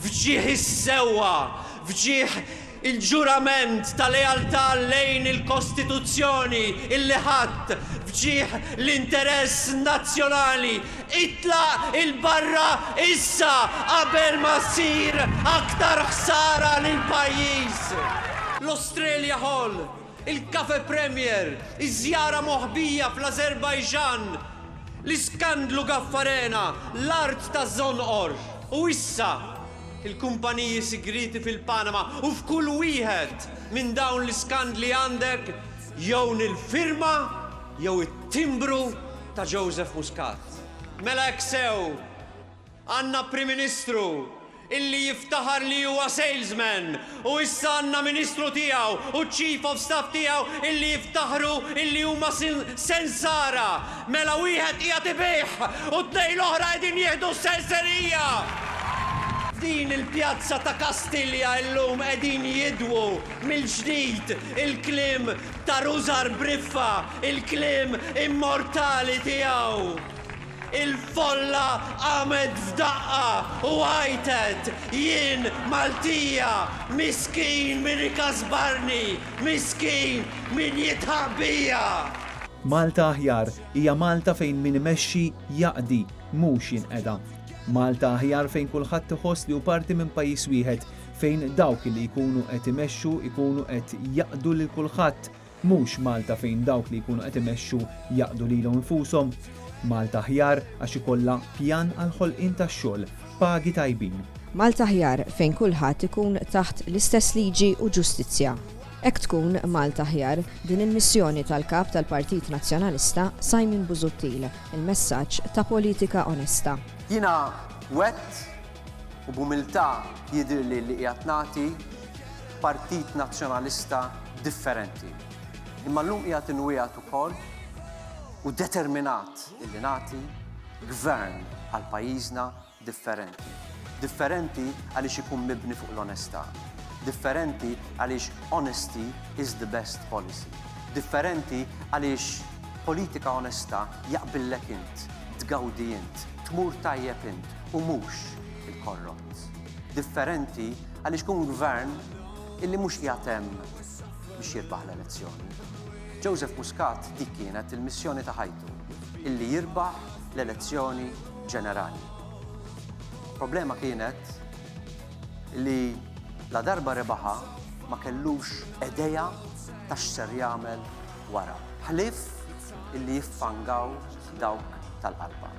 f'ġieħ is-sewwa, f'ġieħ il-ġurament ta' lealtà lejn il-Kostituzzjoni illi ħadt, f'ġieħ l-interess nazzjonali, itlaq 'il barra issa qabel ma ssir aktar ħsara lill-pajjiż! L-Australia Hall. Il-Cafe Premier, iż-żjara moħbija fl-Azerbaijan, l-iskandlu Gaffarena, l-art ta' Zonqor, u issa, il-kumpaniji sigrieti fil-Panama u f'kull wieħed minn dawn l-iskandli għandek jew nil-firma jew it-timbru ta' Joseph Muscat. Mela hekk sew! Għandna Prim Ministru illi jiftaħar li huwa salesman u issa għandna Ministru tiegħu u Chief of Staff tiegħu illi jiftaħru illi huma sensara. Mela wieħed qiegħed ibigħ u t-tnejn l-oħra qegħdin jieħdu s-senserija! F'din il-pjazza ta' Kastilja illum qegħdin jidwu mill-ġdid il-kliem ta' Rużar Briffa, il-kliem immortali tiegħu. Il-folla qamet f'daqqa u għajtet, Jien Maltija! Miskin min ikasbarni! Miskin min jidħaq bija! Malta aħjar hija Malta fejn min imexxi jaqdi, mhux jinqeda. Malta aħjar fejn kulħadd iħoss li hu parti minn pajjiż wieħed, fejn dawk li jkunu qed imexxu jkunu qed jaqdu lil kulħadd, Mhux Malta fejn dawk li jkunu qed imexxu jaqdu lilhom infushom. Malta aħjar għax ikollha pjan għall-ħolqien ta' xogħol, pagi tajbin. Malta aħjar fejn kulħadd ikun taħt l-istess liġi u ġustizzja. Hekk tkun Malta aħjar, din il-missjoni tal-Kap tal-Partit Nazzjonalista Simon Busuttil, il-messaġġ ta' politika onesta. Jiena wgħedt U b'umiltà jidhirli li qiegħed nagħti Partit Nazzjonalista differenti. Imma llum qiegħed inwiegħed ukoll u determinat illi nagħti Gvern għal pajjiżna differenti. Differenti għaliex ikun mibni fuq l-onestà. Differenti għaliex honesty is the best policy. Differenti għaliex politika onesta jaqbillek int, tgawdi int, tmur tajjeb int u mhux il-korrott. Differenti għaliex kun gvern illi mhux qiegħed hemm biex jirbaħ l-elezzjoni. Joseph Muscat dik kienet il-missjoni ta' ħajtu illi jirbaħ l-elezzjoni ġenerali. Problema kienet li la darba rebaħa ma kellux edeja ta' x'ser jagħmel wara. Ħlif illi jiffangaw dawk tal-qalba.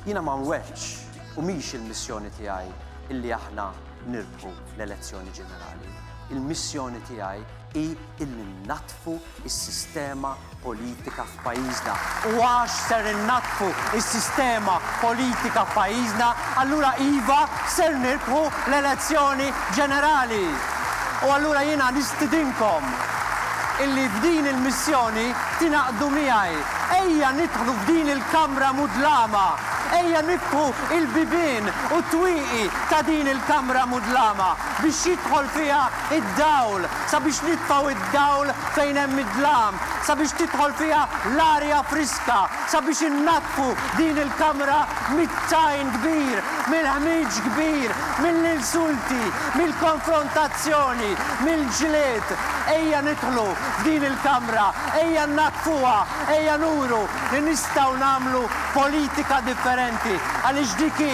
Jiena ma nweddx u mhix il-missjoni tiegħi illi aħna nirbħu l-elezzjoni ġenerali. Il-missjoni tiegħi hi illi nnaddfu s-sistema politika f'pajjiżna. U għax ser innaddfu s-sistema politika f'pajjiżna, allura iva, ser nirbħu l-elezzjoni ġenerali. U allura jiena nistidinkom illi f'din il-missjoni tingħaqdu miegħi Ejja nidħlu f'din il-kamra mudlama, ejja niftħu il-bibien u t-twieqi ta' din il-kamra mudlama biex jidħol fiha id-dawl, sabiex nitfgħu id-dawl fejn hemm id-dlam, sabiex tidħol fiha l-arja friska, sabiex innaddfu din il-kamra mit-tajn kbir, mill-ħmieġ kbir, mill-insulti, mill-konfrontazzjoni, mill-ġlied. Ejja nidħlu f'din il-kamra Ejja nnaddfuha, ejja nuru li nistgħu nagħmlu politika differenti, għaliex dik hi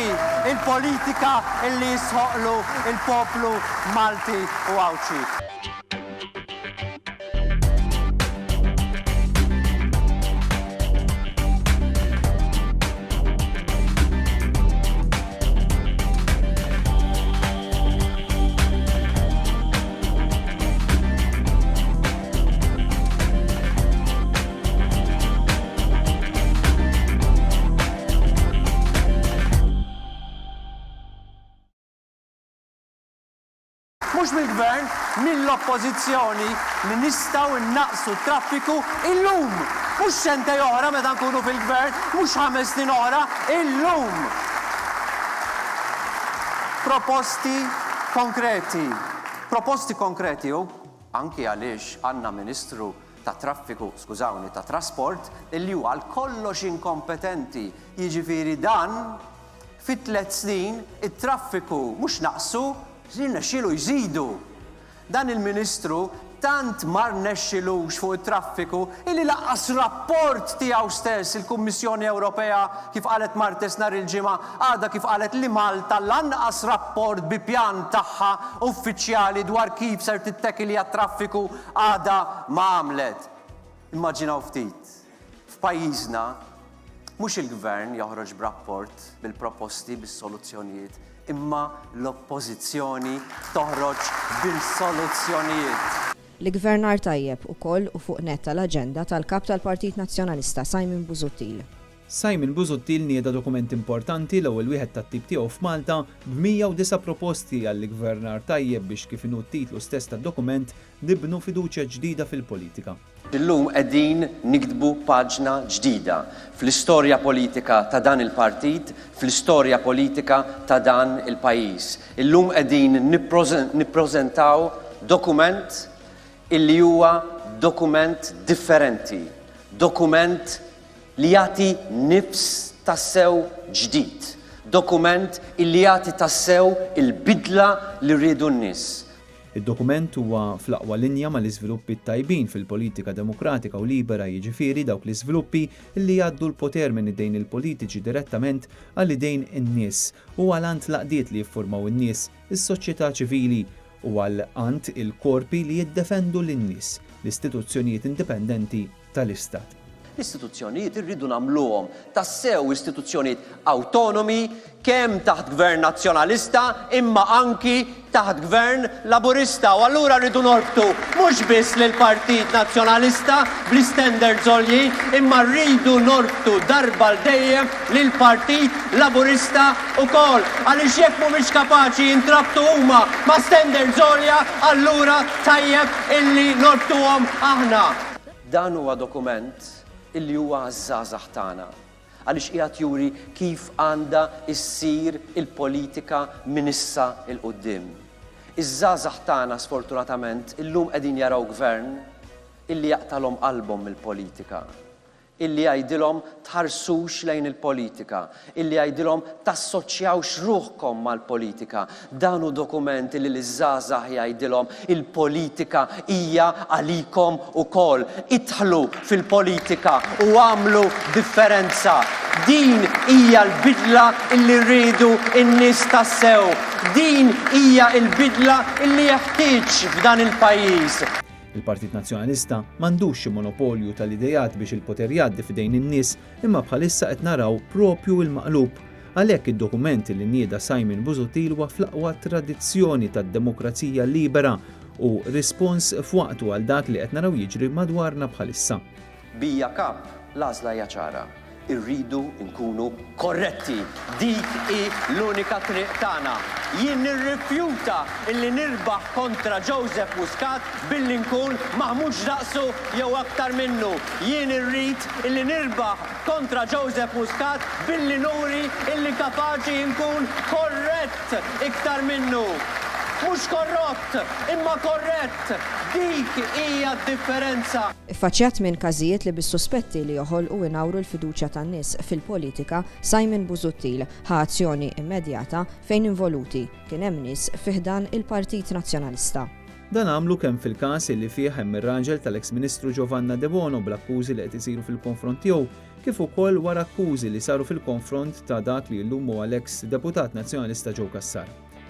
l-politika li jistħoqqlu l-poplu Malti u Għawdxi. mhux mill-Gvern, mill-Oppożizzjoni li nistgħu nnaqsu t-traffiku illum. Mhux sentej oħra meta nkunu fil-Gvern, mhux ħames snin oħra, illum. Proposti konkreti. Proposti konkreti u anki għaliex għandna Ministru tat-Traffiku, skużawni, tat-Trasport, illi hu għal kollox inkompetenti, jiġifieri dan fi tliet snin it-traffiku mhux naqsu, jirnexxielu jżidu. Dan il-Ministru tant ma rnexxilux fuq it-traffiku illi lanqas rapport tiegħu stess il-Kummissjoni Ewropea kif qalet Martes nhar il-Ġimgħa għadha kif qalet li Malta lanqas rapport bi pjan tagħha uffiċjali dwar kif ser tittekilja t-traffiku għadha ma għamlet. Immaġinaw ftit. F'pajjiżna, mhux il-Gvern joħroġ b'rapport bil-proposti, bis-soluzzjonijiet, imma l-Oppożizzjoni toħroġ bil-soluzzjonijiet. L-iggvernar tajjeb ukoll hu fuq nett tal-aġenda tal-Kap tal-Partit Nazzjonalista, Simon Busuttil. Simon Busuttil nieda dokument importanti, l-ewwel wieħed tat-tip tiegħu f'Malta, b'109 proposti għall-iggvernar tajjeb biex kif inhu t-titlu stess tad-dokument, nibnu fiduċja ġdida fil-politika. Illum qegħdin niktbu paġna ġdida fl-istorja politika ta' dan il-partit, fl-istorja politika ta' dan il-pajjiż. Illum qegħdin nippreżentaw dokument illi huwa dokument differenti, dokument li jagħti nifs tassew ġdid, dokument illi jagħti tassew il-bidla li riedu n-nies. Id-dokument huwa fl-aqwa linja mal-iżviluppi t-tajbin fil-politika demokratika u libera, jiġifieri dawk l-iżviluppi li jgħaddu l-poter minn idejn il-politiċi direttament għal idejn in-nies u għal għand l-għaqdiet li jiffurmaw in-nies, is-soċjetà ċivili, u għal għand il-korpi li jiddefendu lin-nies, l-istituzzjonijiet indipendenti, tal-Istat. L-istituzzjonijiet irridu nagħmluhom tassew istituzzjonijiet awtonomi kemm taħt Gvern Nazzjonalista imma anki taħt Gvern Laburista u allura rridu norbtu mhux biss lill-Partit Nazzjonalista bl-istandards għoljin imma rridu norbtu darba l dejjem lill-Partit Laburista wkoll għaliex jekk mhumiex kapaċi jintrabtu huma ma' standards għolja allura tajjeb illi norbtuhom aħna. Dan huwa dokument li huwa għaż-żgħażagħ tagħna għaliex qiegħed juri kif għandha ssir il-politika minn issa 'l quddiem. Iż-żgħażagħ tagħna sfortunatament illum qegħdin jaraw Gvern illi jaqtagħlhom qalbhom mill-politika. illi jgħidilhom tħarsux lejn il-politika, illi jgħidilhom tassoċjawx ruħkom mal-politika. Dan hu dokument illi liż-żgħażagħ jgħidilhom il-politika hija għalikom ukoll. Idħlu fil-politika u agħmlu differenza. Din hija l-bidla illi rridu n-nies tassew. Din hija l-bidla illi jeħtieġ f'dan il-pajjiż. Il-Partit Nazzjonalista m'għandux xi monopolju tal-ideat biex il-poter jgħaddi f'idejn in-nies imma bħalissa qed naraw proprju il-maqlub. Għalhekk id-dokument li nieda Simon Busuttil huwa fl-aqwa tradizzjoni tad-demokrazija libera u rispons f'waqtu għal dak li qed naraw jiġri madwarna bħalissa. Bija Cup, l-għażla hija ċara. Irridu nkunu korretti. Dik hi l-unika triq tagħna. Jien nirrifjuta illi nirbaħ kontra Joseph Muscat billi nkun maħmuġ daqsu jew aktar minnu. Jien irrid illi nirbaħ kontra Joseph Muscat billi nuri illi kapaċi nkun korrett iktar minnu. Mhux korrott, imma korrett. Dik hija d-differenza. Iffaċċjat minn każijiet li bis-suspetti li joħolqu u jnawru l-fiduċja tan-nies fil-politika, Simon Busuttil ħa azzjoni immedjata fejn involuti kien hemm nies fi ħdan il-Partit Nazzjonalista. Dan għamlu kemm fil-każ illi fih hemm ir-raġel tal-eks Ministru Giovanna Debono bl-akkużi li qed isiru fil-konfront tiegħu kif ukoll wara akkużi li saru fil-konfront ta' dak li llum huwa l-eks Deputat Nazzjonalista Joe Cassar.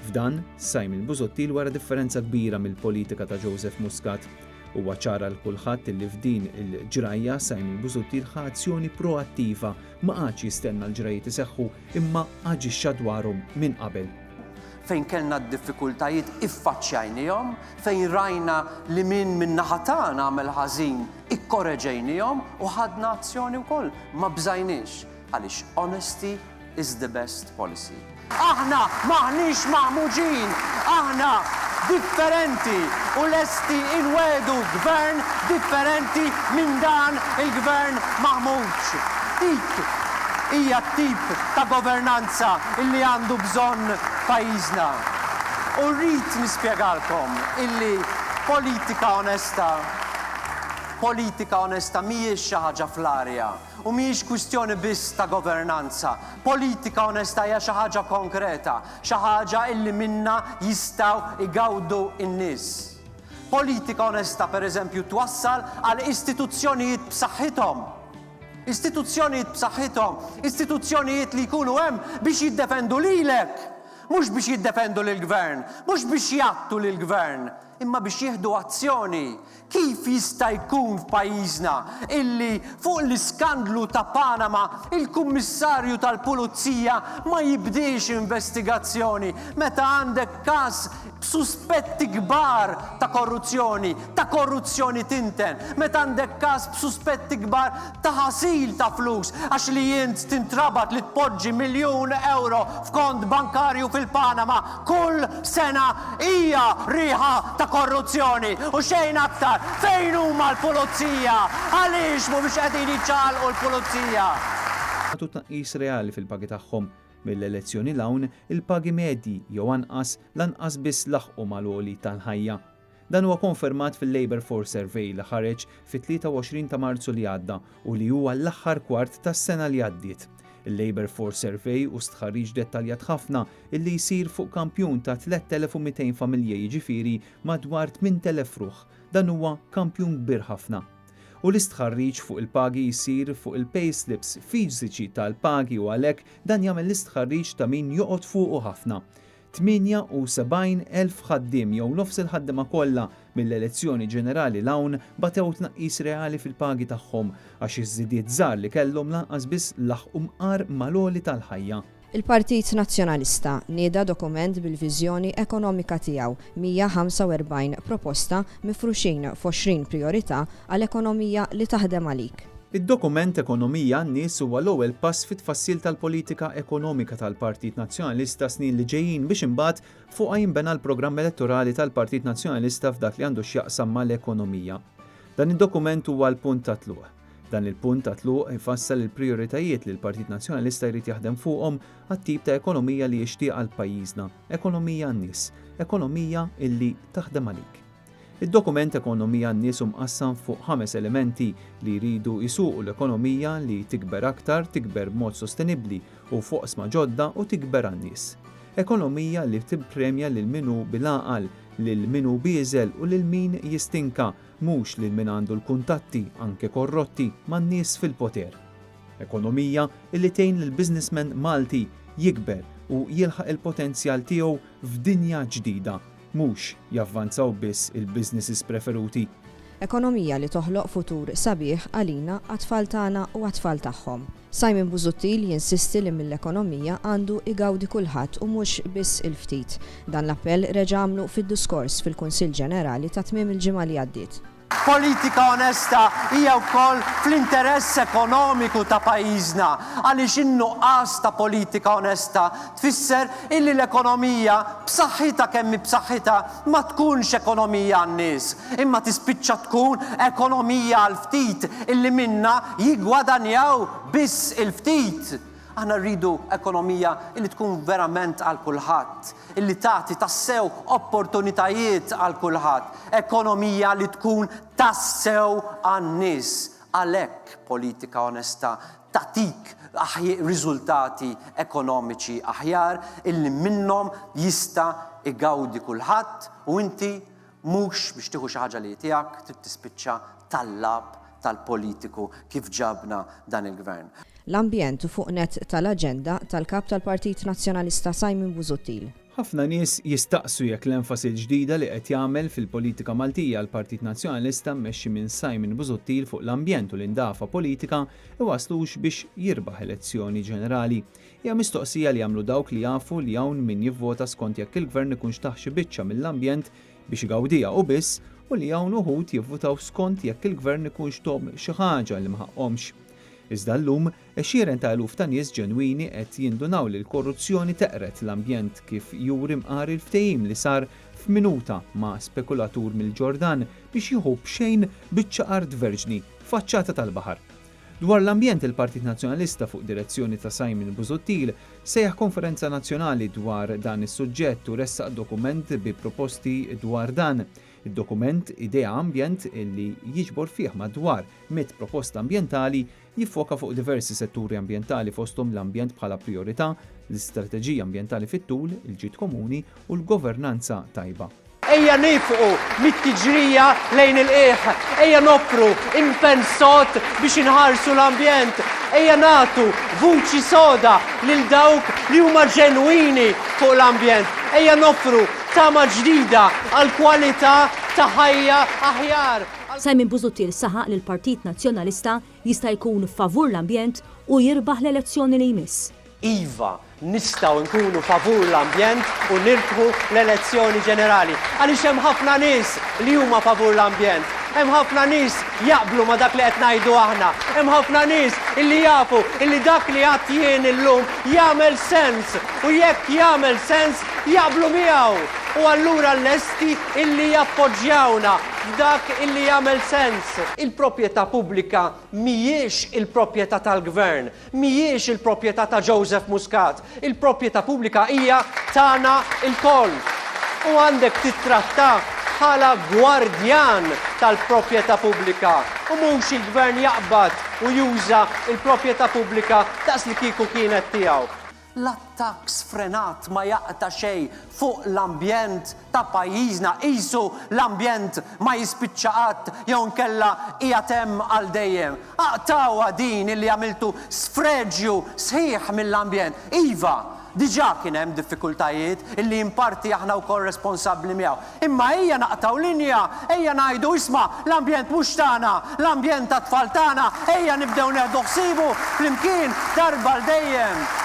F'dan, Simon Busuttil wara differenza kbira mill-politika ta' Joseph Muscat. Huwa ċar għal kulħadd li f'din il-ġrajja Simon Busuttil ħa azzjoni proattiva, ma qagħadx jistenna l-ġrajjiet iseħħu imma aġixxa dwarhom minn qabel. Fejn kellna d-diffikultajiet iffaċċjajniehom, fejn rajna li min min-naħa tagħna għamel ħażin ikkoreġejniehom u ħadna azzjoni wkoll, ma bżajniex għaliex onesti is the best policy. Aħna m'aħniex maħmuġin, aħna differenti u lesti inwegħdu Gvern differenti minn dan il-Gvern maħmuġ. Dik hija t-tip ta' governanza illi għandu bżonn pajjiżna. U rrid nispjegalkom illi politika onesta, politika onesta mhijiex xi ħaġa fl-arja. U mhijiex kwistjoni biss ta' governanza. Politika onesta hija xi ħaġa konkreta, xi ħaġa illi minnha jistgħu jgawdu n-nies. Politika onesta, per eżempju, twassal għal istituzzjonijiet b'saħħithom. Istituzzjonijiet b'saħħithom, istituzzjonijiet li jkunu hemm biex jiddefendu lilek, mhux biex jiddefendu lill-gvern, mhux biex jgħattu lill-gvern, imma biex jieħdu azzjoni, Kif jista' jkun f'pajjiżna illi fuq l-iskandlu ta' Panama il-Kummissarju tal-Pulizija ma jibdiex investigazzjoni meta għandek każ b'suspetti kbar ta' korruzzjoni, ta' korruzzjoni tinten, meta għandek każ b'suspetti kbar ta' ħasil ta' flus għax li int tintrabat li tpoġġi miljun ewro f'kont bankarju fil-Panama kull sena hija riħa ta' korruzzjoni u xejn aktar! Fejn huma l-pulizija? Għaliex mhumiex qegħdin jiċċaqalqu l-pulizija? jagħtu tnaqqis reali fil-pagi tagħhom. Mill-elezzjoni 'l hawn, il-pagi medji, jew anqas, lanqas biss laħqu mal-għoli tal-ħajja. Dan huwa konfermat fil-Labour Force Survey li ħareġ fit-23 ta' Marzu li għadda u li hu għall-aħħar kwart tas-sena li għaddiet. Il-Labour Force Survey hu stħarriġ dettaljat ħafna illi jsir fuq kampjun ta' 3,200 familja jiġifieri madwar 8,000 ruħ. Dan huwa kampjun kbir ħafna. U l-istħarriġ fuq il-pagi jsir fuq il-payslips fiżiċi tal-pagi u għalhekk dan jagħmel l-istħarriġ ta' min joqgħod fuqu ħafna. 78,000 ħaddiem jew nofs il-ħaddiema kollha mill-elezzjoni ġenerali 'l hawn batew tnaqqis reali fil-pagi tagħhom għax iż-żidiet żgħar li kellhom lanqas biss laħqu mqar mal-għoli tal-ħajja. Il-Partit Nazzjonalista nieda dokument bil-viżjoni ekonomika tiegħu, 145 proposta mifruxin f'għoxrin prijorità għal ekonomija li taħdem għalik. Id-dokument Ekonomija għan-Nies huwa l-ewwel pass fit-tfassil tal-politika ekonomika tal-Partit Nazzjonalista s-snin li ġejjin biex imbagħad fuqha jinbena l-programm elettorali tal-Partit Nazzjonalista f'dak li għandu x'jaqsam mal-ekonomija. Dan id-dokument huwa l-punt ta' tluq. Dan il-punt ta' tluq ifassal il-prijoritajiet li l-Partit Nazzjonalista jrid jaħdem fuqhom għat-tip ta' ekonomija li jixtieq għal pajjiżna, ekonomija għan-nies, ekonomija illi taħdem għalik. Id-dokument Ekonomija għan-Nies hu mqassam fuq ħames elementi li jridu jsuqu l-ekonomija li tikber aktar, tikber b'mod sostenibbli u f'oqsma ġodda u tikber għan-nies. Ekonomija li tippremja lil min hu bil-għaqal, lil min hu bieżel u lil min jistinka, mhux lil min għandu l-kuntatti, anke korrotti, man-nies fil-poter. Ekonomija li tgħin lill-businessman Malti jikber u jilħaq il-potenzjal tiegħu f'dinja ġdida, Mhux javvanzaw biss il-businesses preferuti. Ekonomija li toħloq futur sabiħ għalina, għat-tfal tagħna u għat-tfal tagħhom. Simon Busuttil jinsisti li mill-ekonomija għandu igawdi kulħadd u mhux biss il-ftit. Dan l-appell reġa' għamlu fid-diskors fil-Kunsill Ġenerali ta' tmiem il-ġimgħa li għaddiet. Politika onesta hija wkoll fl-interess ekonomiku ta' pajjiżna għaliex in-nuqqas ta' politika onesta tfisser illi l-ekonomija, b'saħħitha kemm hi b'saħħitha, ma tkunx ekonomija għan-nies, imma tispiċċa tkun ekonomija għall-ftit illi minnha jiggwadanjaw biss il-ftit. Aħna rridu ekonomija li tkun verament għal kulħadd, li tagħti tassew opportunitajiet għal kulħadd, ekonomija li tkun tassew għan-nies. Għalhekk politika onesta tagħtik riżultati ekonomiċi aħjar illi minnhom jista' igawdi kulħadd u inti Mhux biex tieħu xi ħaġa li hi tiegħek trid tispiċċa tal-lagħab tal-politiku kif ġabna dan il-Gvern. L-ambjent hu fuq nett tal-aġenda tal-Kap tal-Partit Nazzjonalista Simon Busuttil. Ħafna nies jistaqsu jekk l-enfasi l-ġdida li qed jagħmel fil-politika Maltija l-Partit Nazzjonalista mmexxi minn Simon Busuttil fuq l-ambjent u l-indafa politika iwasslux biex jirbaħ elezzjoni ġenerali. Hija mistoqsija li jagħmlu dawk li jafu li hawn min jivvota skont jekk il-Gvern ikunx tah xi biċċa mill-ambjent biex igawdiha u biss u li hawn uħud jivvutaw skont jekk il-Gvern ikunx tomm xi ħaġa li ma ħaqqhomx. Iżda llum, għexieren ta' eluf ta' nies ġenwini qed jindunaw li l-korruzzjoni teqred l-ambjent kif juri mqar il-ftehim li sar f'minuta ma' spekulatur mill-Ġordan biex jieħu b'xejn biċċa art verġni faċċata tal-baħar. Dwar l-ambjent il-Partit Nazzjonalista fuq direzzjoni ta' Simon Busuttil sejjaħ konferenza nazzjonali dwar dan is-suġġett u ressaq dokument bi proposti dwar dan. Id-dokument Idea Ambjent li jiġbor fih madwar mitt proposta ambjentali jiffoka fuq diversi setturi ambjentali fosthom l-ambjent bħala prijorità, l-istrateġija ambjentali fit-tul, il-ġid komuni u l-governanza tajba. Ejja nifqu mit-tiġrija lejn il-qiegħ, ejja noffru impenn sod biex inħarsu l-ambjent, ejja nagħtu vuċi soda lil dawk li huma ġenwini fuq l-ambjent, ejja noffru tama ġdida għal kwalità ta' ħajja aħjar. Simon Busuttil saħaq li l-Partit Nazzjonalista jista' jkun favur l-ambjent u jirbaħ l-elezzjoni li jmiss. Iva, nistgħu nkunu favur l-ambjent u nirbħu l-elezzjoni ġenerali. Għaliex hemm ħafna nies li huma favur l-ambjent. Hemm ħafna nies jaqblu ma' dak li qed ngħidu aħna. Hemm ħafna nies illi jafu illi dak li għadt jien illum jagħmel sens u jekk jagħmel sens jaqblu miegħu u allura lesti illi jappoġġjawna f'dak illi jagħmel sens. Il-proprjetà pubblika mhijiex il-proprjetà tal-Gvern. Mhijiex il-proprjetà ta' Joseph Muscat, il-proprjetà pubblika hija tagħna lkoll. U għandek tittrattah bħala gwardjan tal-proprjetà pubblika u mhux il-Gvern jaqbad u juża l-proprjetà pubblika daqslikieku kienet tiegħu. L-attakk sfrenat ma jaqta' xejn fuq l-ambjent ta' pajjiżna, qisu l-ambjent ma jispiċċa qatt jew inkella qiegħed hemm għal dejjem. Aqtgħuha din illi għamiltu sfreġju sħiħ mill-ambjent. Iva, diġà kien hemm diffikultajiet illi in parti aħna wkoll responsabbli miegħu. Imma ejja naqtgħu linja, ejja ngħidu isma' l-ambjent mhux tagħna, l-ambjent tat-tfal tagħna, ejja nibdew neħdu ħsiebu flimkien darba għal dejjem.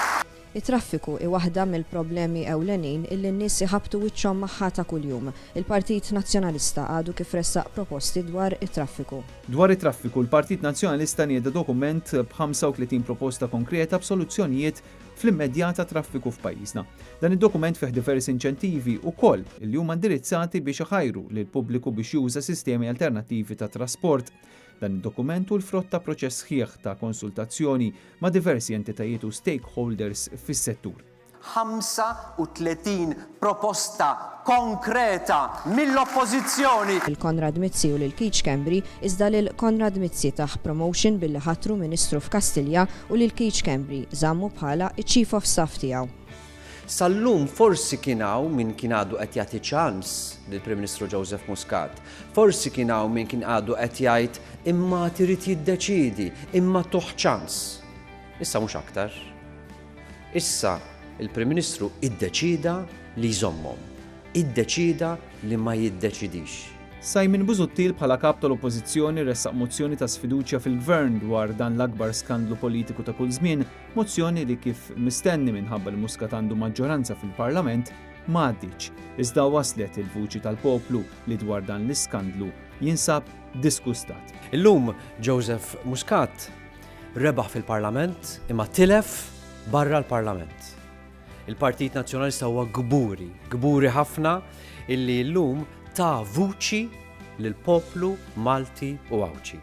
It-traffiku hi waħda mill-problemi ewlenin illi n-nies iħabbtu wiċċhom magħha ta' kuljum. Il-Partit Nazzjonalista għadu kif ressaq proposti dwar it-traffiku. Dwar it-traffiku, l-Partit Nazzjonalista nieda dokument b' 35 proposta konkreta b'soluzzjonijiet fl-immedjata traffiku f'pajjiżna. Dan id-dokument fih diversi inċentivi wkoll li huma indirizzati biex iħajru lill-pubbliku biex juża sistemi alternattivi ta' trasport. Dan id-dokument hu l-frott ta' proċess sħiħ ta' konsultazzjoni ma' diversi entitajiet u stakeholders fis-settur. 35 proposta konkreta mill-Oppożizzjoni. lil Konrad Mizzi u lil Keith Schembri, iżda lil Konrad Mizzi tah promotion billi ħatru Ministru f'Kastilja u lil Keith Schembri żammu bħala ċ-Chief of Staff tiegħu. Sal-lum forsi kien hawn min kien għadu qed jagħti ċans lill-Prim Ministru Joseph Muscat. Forsi kien hawn min kien għadu qed jgħid imma għad irid jiddeċiedi, imma tuh ċans. Issa mhux aktar. Issa, il-Prim Ministru iddeċieda li jżommhom. Iddeċieda li ma jiddeċidix. Simon Busuttil bħala Kap tal-Oppożizzjoni ressaq mozzjoni ta' sfiduċja fil-Gvern dwar dan l-akbar skandlu politiku ta' kull żmien, mozzjoni li kif mistenni minħabba li Muscat għandu maġġoranza fil-Parlament, ma għaddietx. Iżda waslet il-vuċi tal-poplu li dwar dan l-iskandlu jinsab disgustat. Illum Joseph Muscat Rebaħ fil-Parlament imma tilef barra l-Parlament. Il-Partit Nazzjonalista huwa kburi, kburi ħafna illi llum ta' vuċi lill-poplu Malti u Għawdxi.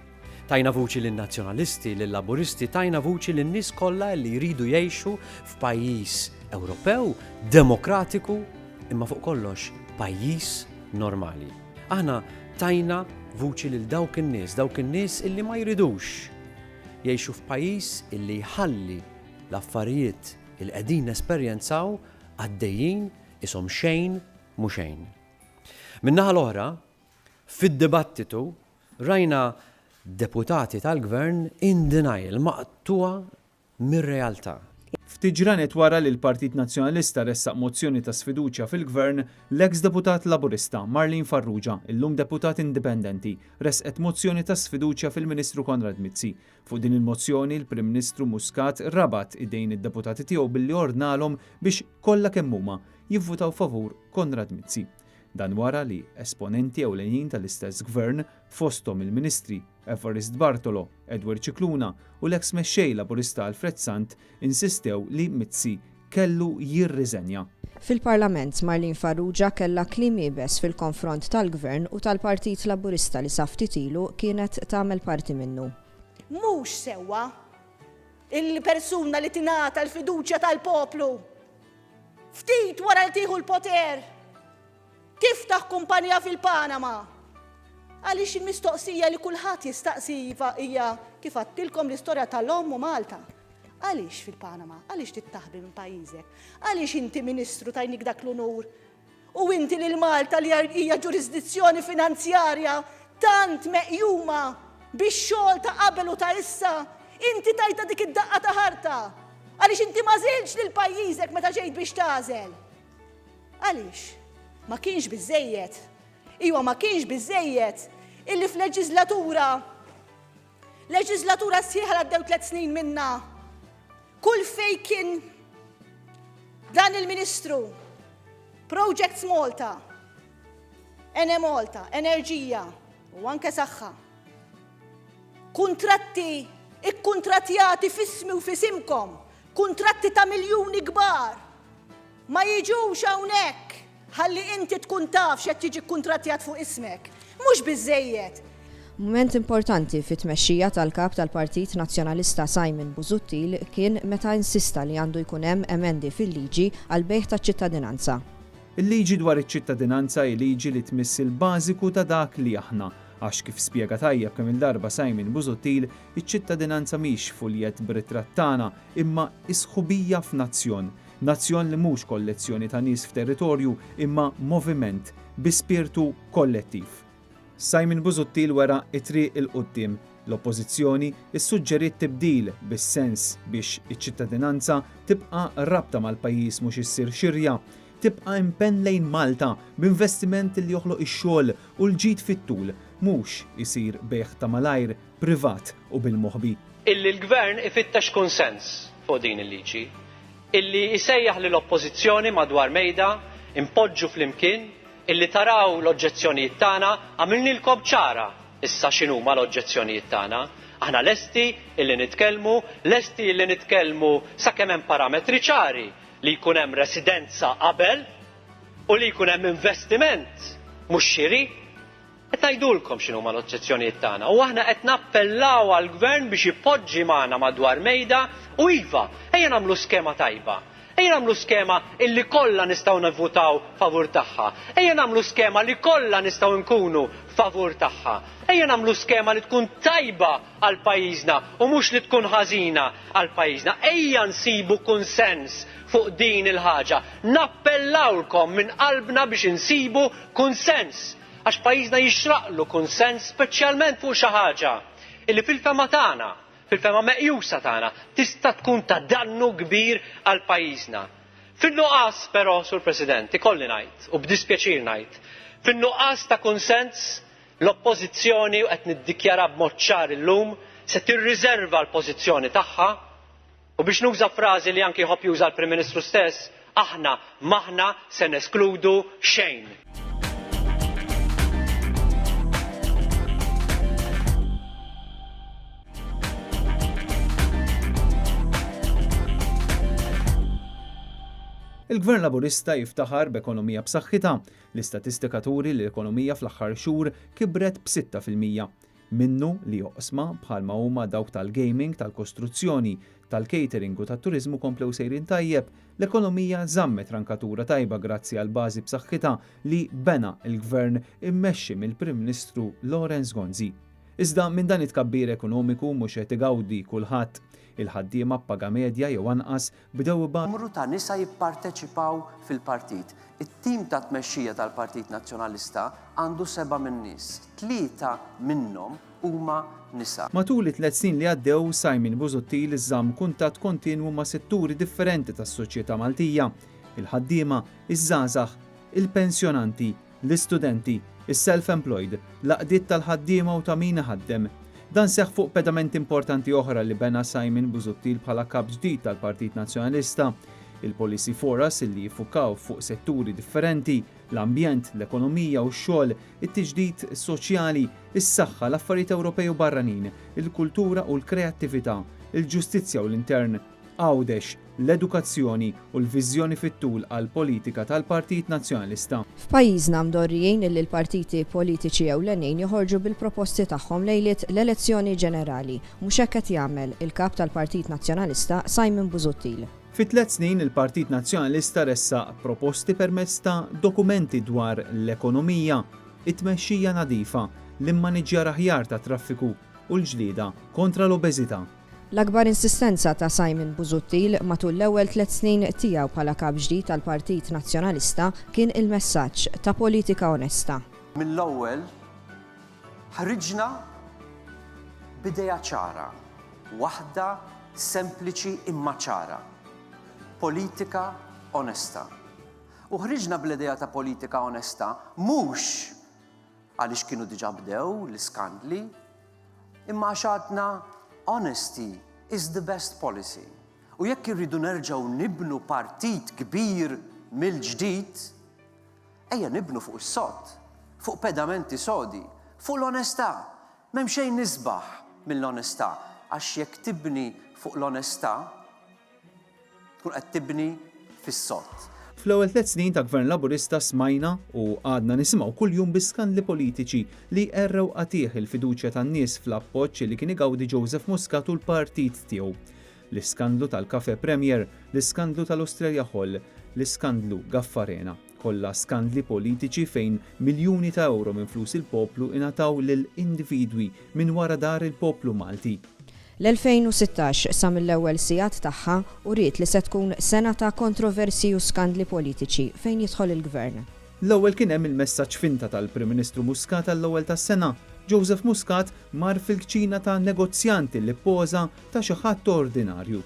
Tajna vuċi lin nazzjonalisti lil laburisti tajna vuċi lin nies kollha li jridu jgħixu f'pajjiż Ewropew, demokratiku, imma fuq kollox pajjiż normali. Aħna tajna vuċi lil dawk in-nies, dawk in-nies illi ma jridux jgħixu f'pajjiż illi jħalli l-affarijiet li qegħdin nesperjenzaw għaddejjin qishom xejn mhu xejn. Min-naħa l-oħra, fid-dibattitu rajna deputati tal-Gvern in denial, maqtugħa mir-realtà. Ftit ġranet wara li l-Partit Nazzjonalista ressaq mozzjoni ta' sfiduċja fil-Gvern, l-eks deputat Laburista, Marlene Farrugia, illum deputat indipendenti, ressqet mozzjoni ta' sfiduċja fil-Ministru Konrad Mizzi. Fuq din il-mozzjoni, l-Prim Ministru Muscat rabat idejn id-deputati tiegħu billi ordnalhom biex, kollha kemm huma, jivvutaw favur Konrad Mizzi. Dan wara li esponenti ewlenin tal-istess Gvern, fosthom il-Ministri, Evarist Bartolo, Edward Scicluna u l-eks Mexxej Laburista Alfred Sant insistew li Mizzi kellu jirriżenja. Fil-Parlament, Marlene Farrugia kellha kliem iebes fil-konfront tal-Gvern u tal-Partit Laburista li sa ftit ilu kienet tagħmel parti minnu. Mhux sewwa li persuna li tingħata l-fiduċja tal-poplu ftit wara li tieħu l-poter Tiftaħ kumpanija fil-Panama? Għaliex il-mistoqsija li kulħadd jistaqsi iva hija kif għadtilkom l-istorja tal-omm u Malta. Għaliex fil-Panama? Għaliex tittaħbi minn pajjiżek? Għaliex inti Ministru tajnik dak l-unur? U inti lil Malta li hija ġurisdizzjoni finanzjarja tant meqjuma bix-xogħol ta' qabel u ta' issa, inti tajta dik id-daqqa ta' ħarta? Għaliex inti ma żilx lil pajjiżek meta ġejt biex tagħżel? Għaliex? Ma kienx biżżejjed? Iwa ma kienx biżżejjed illi f'leġiżlatura leġiżlatura sħiħa għaddew tliet snin minna kull fej kien dan il-Ministru Projects Malta, Ene Malta, Enerġija u anke saħħa. Kuntratti ikkuntratjati fismi u fisimkom, kuntratti ta' miljuni kbar Ma jiġux hawnhekk ħalli inti tkun taf x'qed jiġi kkuntrattjat fuq ismek. Mhux biżżejjed. Mument importanti fit-tmexxija tal-Kap tal-Partit Nazzjonalista Simon Busuttil kien meta insista li għandu jkun hemm emendi fil-liġi għall-bejgħ taċ-ċittadinanza. Il-liġi dwar iċ-ċittadinanza hi liġi li tmiss il-bażiku ta' dak li aħna, għax kif spjega tajjeb kemm-il darba Simon Busuttil, iċ-ċittadinanza mhix fuljett b'ritratt tagħna imma hi sħubija f'nazzjon. Nazzjon li mhux kollezzjoni ta' nies f'territorju imma moviment bi spirtu kollettiv. Simon Busuttil wera t-triq 'il quddiem. L-Oppożizzjoni ssuġġeriet tibdil bis-sens biex iċ-ċittadinanza tibqa' rabta mal-pajjiż mhux issir xirja, tibqa' impenn lejn Malta b'investiment li joħloq ix-xogħol u l-ġid fit-tul, mhux isir bejgħ ta' malajr. privat u bil-moħbi. Illi l-Gvern ifittex kunsens fuq din il-liġi. Illi isejjaħ lill-Oppożizzjoni madwar mejda, inpoġġu flimkien, illi taraw l-oġġezzjonijiet tagħna, għamilnielkom ċara issa x'inhuma l-oġġezzjonijiet tagħna. Aħna lesti illi nitkellmu, lesti illi nitkellmu sakemm hemm parametri ċari, li jkun hemm residenza qabel u li jkun hemm investiment, mhux xiri. Qed ngħidulkom x'inhuma l-oġġezzjonijiet tagħna u aħna qed nappellaw għall-Gvern biex ipoġġi magħna madwar mejda u iva, ejja nagħmlu skema tajba. Ejja nagħmlu skema illi kollha nistgħu nivvutaw favur tagħha. Ejja nagħmlu skema li kollha nistgħu nkunu favur tagħha. Ejja nagħmlu skema li tkun tajba għal pajjiżna u mhux li tkun ħażina għal pajjiżna. Ejja nsibu kunsens fuq din il-ħaġa. Nappellawlkom minn qalbna biex insibu kunsens. Għax pajjiżna jixraqlu kunsens speċjalment fuq xi ħaġa li fil-fehma tagħna, fil-fehma meqjusa tagħna, tista' tkun ta' dannu kbir għal pajjiżna. Fin-nuqqas però, Sur President, ikolli ngħid u b'dispjaċir ngħid, fin-nuqqas ta' kunsens, l-Oppożizzjoni, u qed niddikjara b'mod ċar illum, se tirriżerva l-pożizzjoni tagħha, U biex nuża frażi li anki jħobb juża l-Prim Ministru stess, aħna m'aħna se neskludu xejn. Il-Gvern Laburista jiftaħar b'ekonomija b'saħħitha. L-istatistika turi li l-ekonomija fl-aħħar xhur kibret b'6 fil-mija. minnu li oqsma bħalma huma dawk tal-gaming, tal-kostruzzjoni, tal-catering u tat-turiżmu komplew sejrin tajjeb, l-ekonomija żammet rankatura tajba grazzi għall-bażi b'saħħitha li bena l-Gvern immexxi mill-Prim Ministru Lawrence Gonzi. Iżda minn dan it-tkabbir ekonomiku mhux qed igawdi kulħadd. Il-ħaddiema b'paga medja jew anqas bdew ibatu. Numru ta' nisa jipparteċipaw fil-partit. It-tim ta' tmexxija tal-Partit Nazzjonalista għandu seba' min-nies. Tlieta minnhom huma nisa. Matul it-tliet snin li għaddew, Simon Busuttil żamm kuntatt kontinwu ma' setturi differenti tas-soċjetà Maltija, il-ħaddiema, iż-żgħażagħ, il-pensjonanti, l-istudenti, is-self-employed, l-għaqdiet tal-ħaddiema u ta' min iħaddem. Dan seħħ fuq pedamenti importanti oħra li bena Simon Busuttil bħala Kap ġdid tal-Partit Nazzjonalista, il-policy foras li jiffukaw fuq setturi differenti, l-ambjent, l-ekonomija u x-xogħol, it-tiġdid soċjali, is-saħħa, l-affarijiet Ewropej u barranin, il-kultura u l-kreattività, il-ġustizzja u l-intern. Għawdex, l-edukazzjoni u l-viżjoni fit-tul għall-politika tal-Partit Nazzjonalista. F'pajjiżna mdorrijin illi l-partiti politiċi ewlenin joħorġu bil-proposti tagħhom lejliet l-elezzjoni ġenerali. Mhux hekk qed jagħmel il-Kap tal-Partit Nazzjonalista Simon Busuttil. Fi tliet snin il-Partit Nazzjonalista ressaq proposti permezz ta' dokumenti dwar l-ekonomija, it-tmexxija nadifa, l-immaniġġjar aħjar tat-traffiku u l-ġlieda kontra l-obeżità. L-akbar insistenza ta' Simon Busuttil matul l-ewwel tliet snin tiegħu bħala Kap ġdid tal-Partit Nazzjonalista kien il-messaġġ ta' politika onesta. Mill-ewwel ħriġna b'idea ċara, waħda sempliċi imma ċara, politika onesta. U ħriġna bl-idea ta' politika onesta mhux għaliex kienu diġà bdew l-iskandli, Imma għax għadna honesty is the best policy u jekk irridu nerġgħu nibnu partit kbir mill-ġdid, ejja nibnu fuq is-sod, fuq pedamenti sodi, fuq l-onestà. M'hemm xejn isbaħ mill-onestà għax jekk tibni fuq l-onestà, Tkun qed tibni fis-sod. Fl-ewwel tliet snin ta' Gvern Laburista smajna u għadna nisimgħu kuljum bi skandli politiċi li qerrew qatigħ il-fiduċja tan-nies fl-appoġġ li kien igawdi Joseph Muscat u l-partit tiegħu. L-iskandlu tal-Cafe Premier, l-iskandlu tal-Ostrelja Hall, l-iskandlu Gaffarena. Kollha skandli politiċi fejn miljuni ta' ewro minn flus il-poplu ingħataw lil individwi minn wara dahar il-poplu Malti. L-2016, sa mill-ewwel sigħat tagħha, uriet li se tkun sena ta' kontroversji u skandli politiċi fejn jidħol il-Gvern. L-ewwel kien hemm il-messaġġ finta tal-Prim Ministru Muscat għall-ewwel tas-sena. Joseph Muscat mar fil-kċina ta' negozjant li ppoża ta' xi ħadd ordinarju.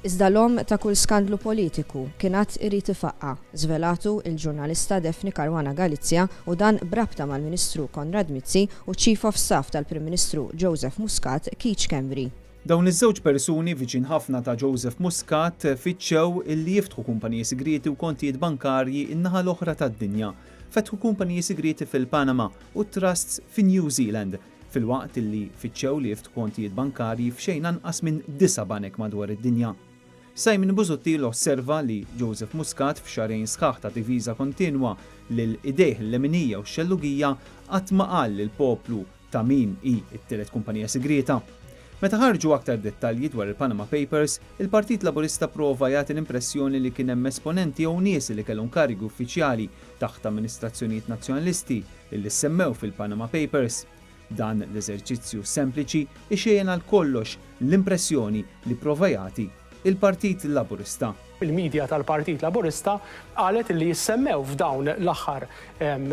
Iżda l-omm ta' kull skandlu politiku kien għad irid ifaqqa', żvelatu l-ġurnalista Daphne Caruana Galizia u dan b'rabta mal-Ministru Konrad Mizzi u ċ-Chief of Staff tal-Prim Ministru Joseph Muscat, Keith Schembri. Dawn iż-żewġ persuni viċin ħafna ta' Joseph Muscat fittxew li jiftħu kumpaniji sigrieti u kontijiet bankarji n-naħa l-oħra tad-dinja. Fetħu kumpaniji sigrieti fil-Panama u trusts fin-New Zealand. filwaqt li fittxew li jiftħu kontijiet bankarji f'xejn anqas minn disa' banek madwar id-dinja. Simon Busuttil osserva li Joseph Muscat f'xahrejn sħaħ ta' diviża kontinwa lil idejh l-leminija u x-xellugija qatt ma qal lill-poplu ta' min hi t-tielet kumpanija sigrieta. Meta ħarġu aktar dettalji dwar il-Panama Papers, il-Partit Laburista pprova jagħti l-impressjoni li kien hemm esponenti jew nies li kellhom karigi uffiċjali taħt amministrazzjonijiet Nazzjonalisti illi ssemmew fil-Panama Papers. Dan l-eżerċizzju sempliċi ixejjen għal kollox l-impressjoni li pprova jagħti il-Partit Laburista. Il-media tal-Partit Laburista qalet illi ssemmew f'dawn l-aħħar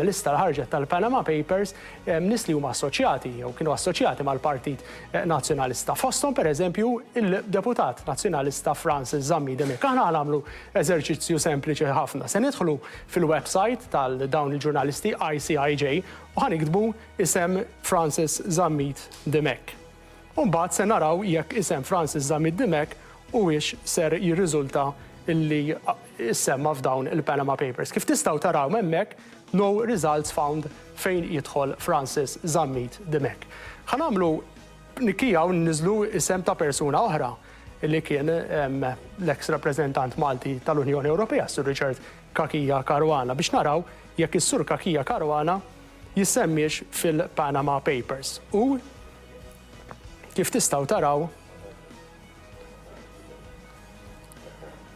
lista li ħarġet tal-Panama Papers Hemm nies li huma assoċjati jew kienu assoċjati mal-Partit Nazzjonalista. Fosthom, per eżempju, il-Deputat Nazzjonalista Francis Zammit Demic. Aħna ħa nagħmlu eżerċizzju sempliċi ħafna. Se nidħlu fil-website tal dawn il-ġurnalisti ICIJ u ħa niktbu isem Francis Zammit Demic. U mbagħad se naraw jekk isem Francis Zammit Dimech huwiex ser jirriżulta li issemma' f'dawn il-Panama Papers. Kif tistgħu taraw hemmhekk, No results found fejn jidħol Francis Zammit Dimech. Ħa nagħmlu tnikkija u nniżlu isem ta' persuna oħra li kien l-eks rappreżentant Malti tal-Unjoni Ewropea, Sir Richard Cachia Caruana, biex naraw jekk is-Sur Cachia Caruana jissemmiex fil-Panama Papers u, kif tistgħu taraw,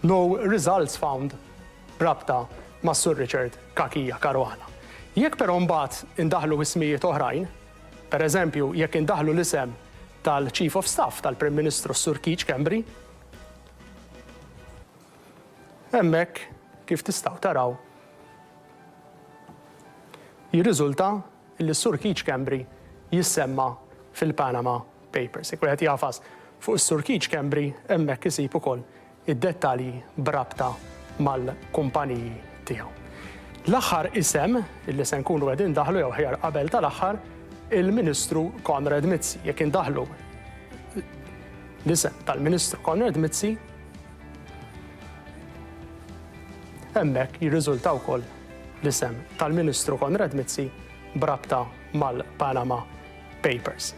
no results found b'rabta ma' Sur Richard Cachia Caruana. Jekk però mbagħad indaħħlu ismijiet oħrajn, per eżempju jekk indaħħlu l-isem tal-Chief of Staff tal-Prim Ministru s-Sur Keith Schembri, Hemmhekk, kif tistgħu taraw, jirriżulta li s-Sur Keith Schembri jissemma fil-Panama Papers. Jekk wieħed jagħfas fuq is-Sur Keith Schembri, hemmhekk isib ukoll id-dettalji b'rabta mal-kumpaniji tiegħu. L-aħħar isem li se nkunu qegħdin daħlu jew ħjar qabel tal-aħħar il-Ministru Konrad Mizzi. Jekk indaħlu l-isem tal-Ministru Konrad Mizzi, Hemmhekk jirriżulta wkoll l-isem tal-Ministru Konrad Mizzi b'rabta mal-Panama Papers.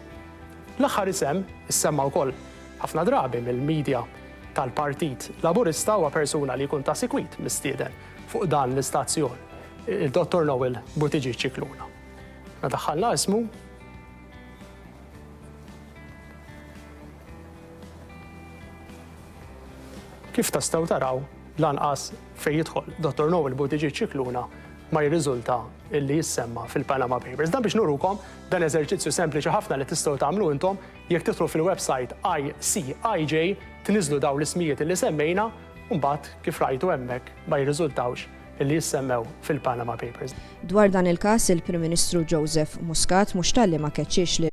L-aħħar isem issemma wkoll ħafna drabi mill-medja tal-Partit Laburista huwa persuna li jkun ta' sikwit mistieden fuq dan l-istazzjon, il-Dottor Noel Butigi Ċikluna. Nadaħħalna ismu Kif tastgħu taraw, lanqas fejn jidħol Dottor Noel Buttigieg Scicluna ma jirriżulta illi jissemma fil-Panama Papers. Dan biex nurukom dan eżerċizzju sempliċi ħafna li tistgħu tagħmlu intom jekk titru fil-website ICIJ tniżlu daw l-ismijiet li semmejna u mbagħad kif rajtu hemmhekk ma jirriżultawx li jissemmew fil-Panama Papers. Dwar dan il-każ, il-Prim Ministru Joseph Muscat mhux talli ma keċċiex li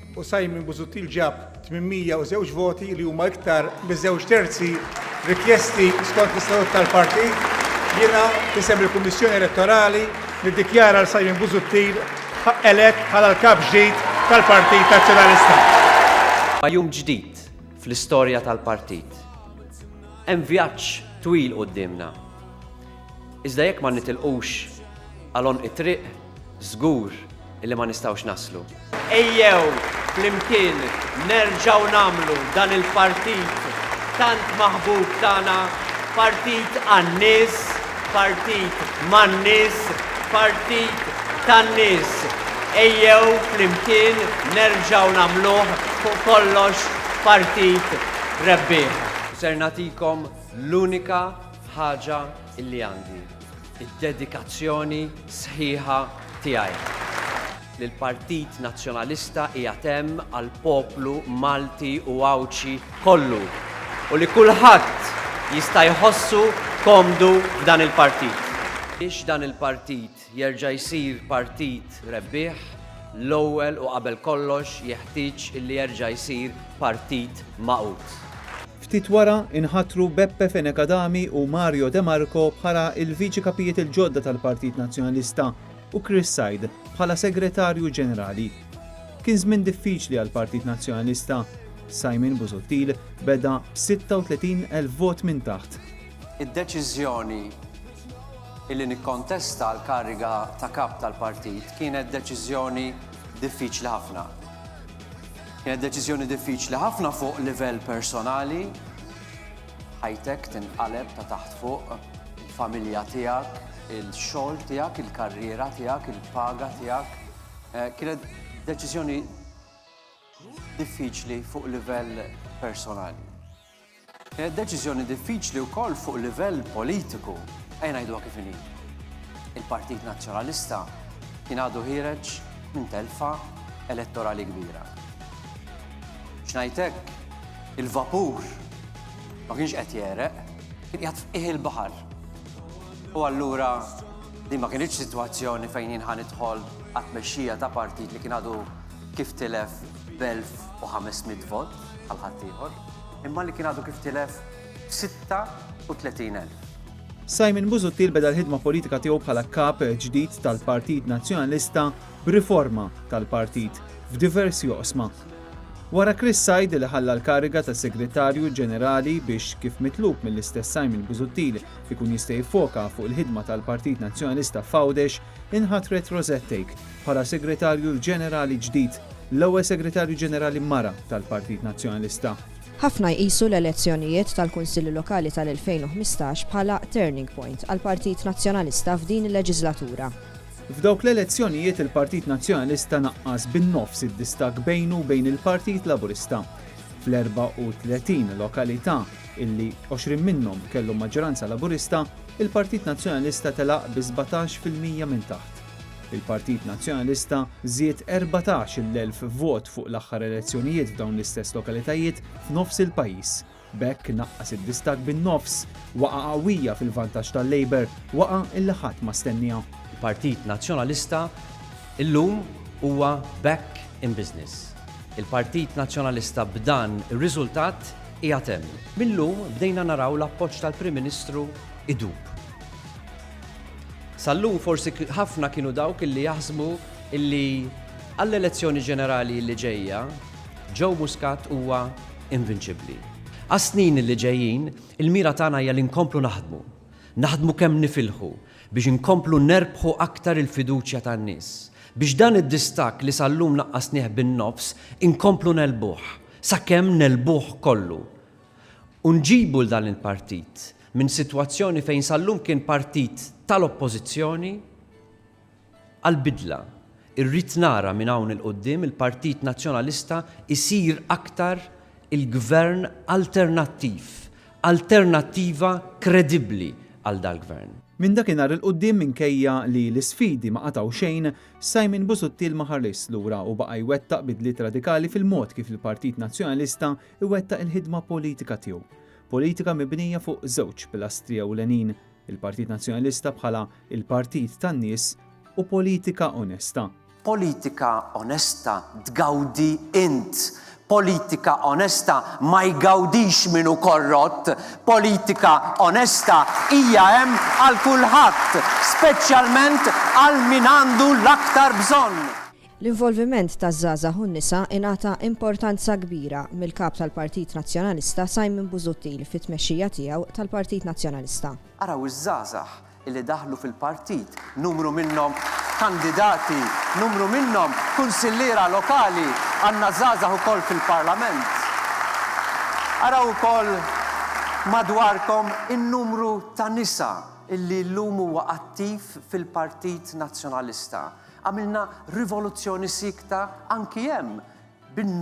u Simon Busuttil ġab 802 voti li huma iktar miż-żewġ terzi rikjesti skont l-istatut tal-partit, jiena f'isem il-Kummissjoni Elettorali niddikjara lil Simon Busuttil elett bħala l-Kap Ġdid tal-Partit Nazzjonalista. Huwa jum ġdid fl-istorja tal-Partit. Hemm vjaġġ twil quddiemna. Iżda jekk ma nitilqux għal għonq it-triq, żgur illi ma nistgħux naslu. Ejjew flimkien nerġgħu nagħmlu dan il-partit tant maħbub tagħna, partit għan-nies, partit man-nies, partit tan-nies. Ejjew flimkien nerġgħu nagħmluh fuq kollox partit rebbieħ. U ser nagħtikom l-unika, Ħaġa li għandi d-dedikazzjoni sħiħa tiegħi. Li l-Partit Nazzjonalista qiegħed hemm għall-poplu Malti u Għawdxi kollu u li kulħadd jista' jħossu komdu f'dan il-partit. Biex dan il-partit jerġa' jsir partit rebbieħ, l-ewwel u qabel kollox jeħtieġ li jerġa' jsir partit magħqud. Ftit wara nħatru Beppe Fenech Adami u Mario De Marco bħala l-Viċi Kapijiet il-ġodda tal-Partit Nazzjonalista u Chris Said bħala Segretarju Ġenerali. Kien żmien diffiċli għall-Partit Nazzjonalista. Simon Busuttil beda b' 36 elf vot minn taħt. Id-deċiżjoni Illi nikkontesta l-kariga ta' Kap tal-Partit kienet deċiżjoni diffiċli ħafna. Kienet deċiżjoni diffiċli ħafna fuq livell personali, ħajtek tinqaleb ta' taħt fuq, il-familja tiegħek, il-xogħol tiegħek, il-karriera tiegħek, il-paga tiegħek. Eh, kienet deċiżjoni diffiċli fuq livell personali. Hija deċiżjoni diffiċli wkoll fuq livell politiku. Ejja ngħiduha kif inhi. Il-Partit Nazzjonalista kien għadu ħiereġ minn telfa elettorali kbira. Biex ngħid hekk, il-vapur ma kienx qed jegħreq, kien qiegħed f'qiegħ il-baħar. U allura din ma kinitx sitwazzjoni fejn jien ħa nidħol għat-tmexxija ta' partit li kien għadu kif tilef b'elf-u-ħames-mitt vot bħal ħaddieħor, imma li kien għadu kif tilef b'sitta u tletin elf. Simon Busuttil beda l-ħidma politika tiegħu bħala Kap ġdid tal-Partit Nazzjonalista b'riforma tal-Partit f'diversi oqsma. Wara Chris Said li ħalla l-kariga ta' Segretarju Ġenerali biex kif mitlub mill-istess Simon Busuttil ikun jista' jiffoka fuq il-ħidma tal-Partit Nazzjonalista f'Għawdex, Inħatret Rosette Take bħala Segretarju l-Ġenerali ġdid, l-ewwel Segretarju Ġenerali mara tal-Partit Nazzjonalista. Ħafna jqisu l-elezzjonijiet tal-Kunsilli Lokali tal-2015 bħala turning point għall-Partit Nazzjonalista f'din il-leġislatura. F'dawk l-elezzjonijiet il-Partit Nazzjonalista naqqas bin-nofs id-distakk bejnu u bejn il-Partit Laburista. Fl-34 lokalità illi 20 minnhom kellhom maġġoranza Laburista, il-Partit Nazzjonalista telaq bi 17 fil-mija minn taħt. Il-Partit Nazzjonalista żied 14-il elf vot fuq l-aħħar elezzjonijiet f'dawn l-istess lokalitajiet f'nofs il-pajjiż. B'hekk naqqas id-distakk bin-nofs. Waqgħa qawwija fil-vantaġġ tal-Labour, waqgħa illi ħadd ma stenniha. Il-Partit Nazzjonalista illum huwa back in business. Il-Partit Nazzjonalista b'dan ir-riżultat Qiegħed hemm. Mil-lum bdejna naraw l-appoġġ tal-Prim Ministru idub. Sal-lum forsi ħafna kienu dawk illi jaħsbu illi għall-elezzjoni ġenerali illi ġejja Joe Muscat huwa invinċibbli. Għas-snin illi ġejjin, il-mira tagħna hija li nkomplu naħdmu, naħdmu kemm nifilħu biex inkomplu nerbħu aktar il-fiduċja tan-nies, biex dan id-distakk li sal-lum naqqasnieh bin-nofs inkomplu negħlbuh, Sakemm negħlbuh kollu u nġibu 'l dan il-partit minn sitwazzjoni fejn sal-lum kien partit tal-Oppożizzjoni għall-bidla. Irrid nara minn hawn 'il quddiem il-Partit Nazzjonalista jsir aktar il-Gvern alternattiv, alternattiva kredibbli għal dal-Gvern. Minn dakinhar 'il quddiem minkejja li l-isfidi ma qatgħu xejn, Simon Busuttil ma ħarisx lura u baqa' jwettaq bidliet radikali fil-mod kif il-Partit Nazzjonalista jwettaq il-ħidma politika tiegħu. Politika mibnija fuq żewġ pilastri ewlenin, il-Partit Nazzjonalista bħala il-partit tan-nies u politika onesta. Politika onesta tgawdi int Politika onesta ma jgawdix min hu korrott, politika onesta hija hemm għal kulħadd, speċjalment għal min għandu l-aktar bżonn. L-involviment taż-żgħażagħ u n-nisa ingħata importanza kbira mill-Kap tal-Partit Nazzjonalista Simon Busuttil fit-tmexxija tiegħu tal-Partit Nazzjonalista. Araw iż-żgħażagħ li daħlu fil-partit, numru minnhom kandidati, numru minnhom kunsilliera lokali, għandna żgħażagħ ukoll fil-Parlament. Araw ukoll madwarkom in-numru ta' nisa illi llum huwa attiv fil-Partit Nazzjonalista. Għamilna rivoluzzjoni siekta anki hemm bin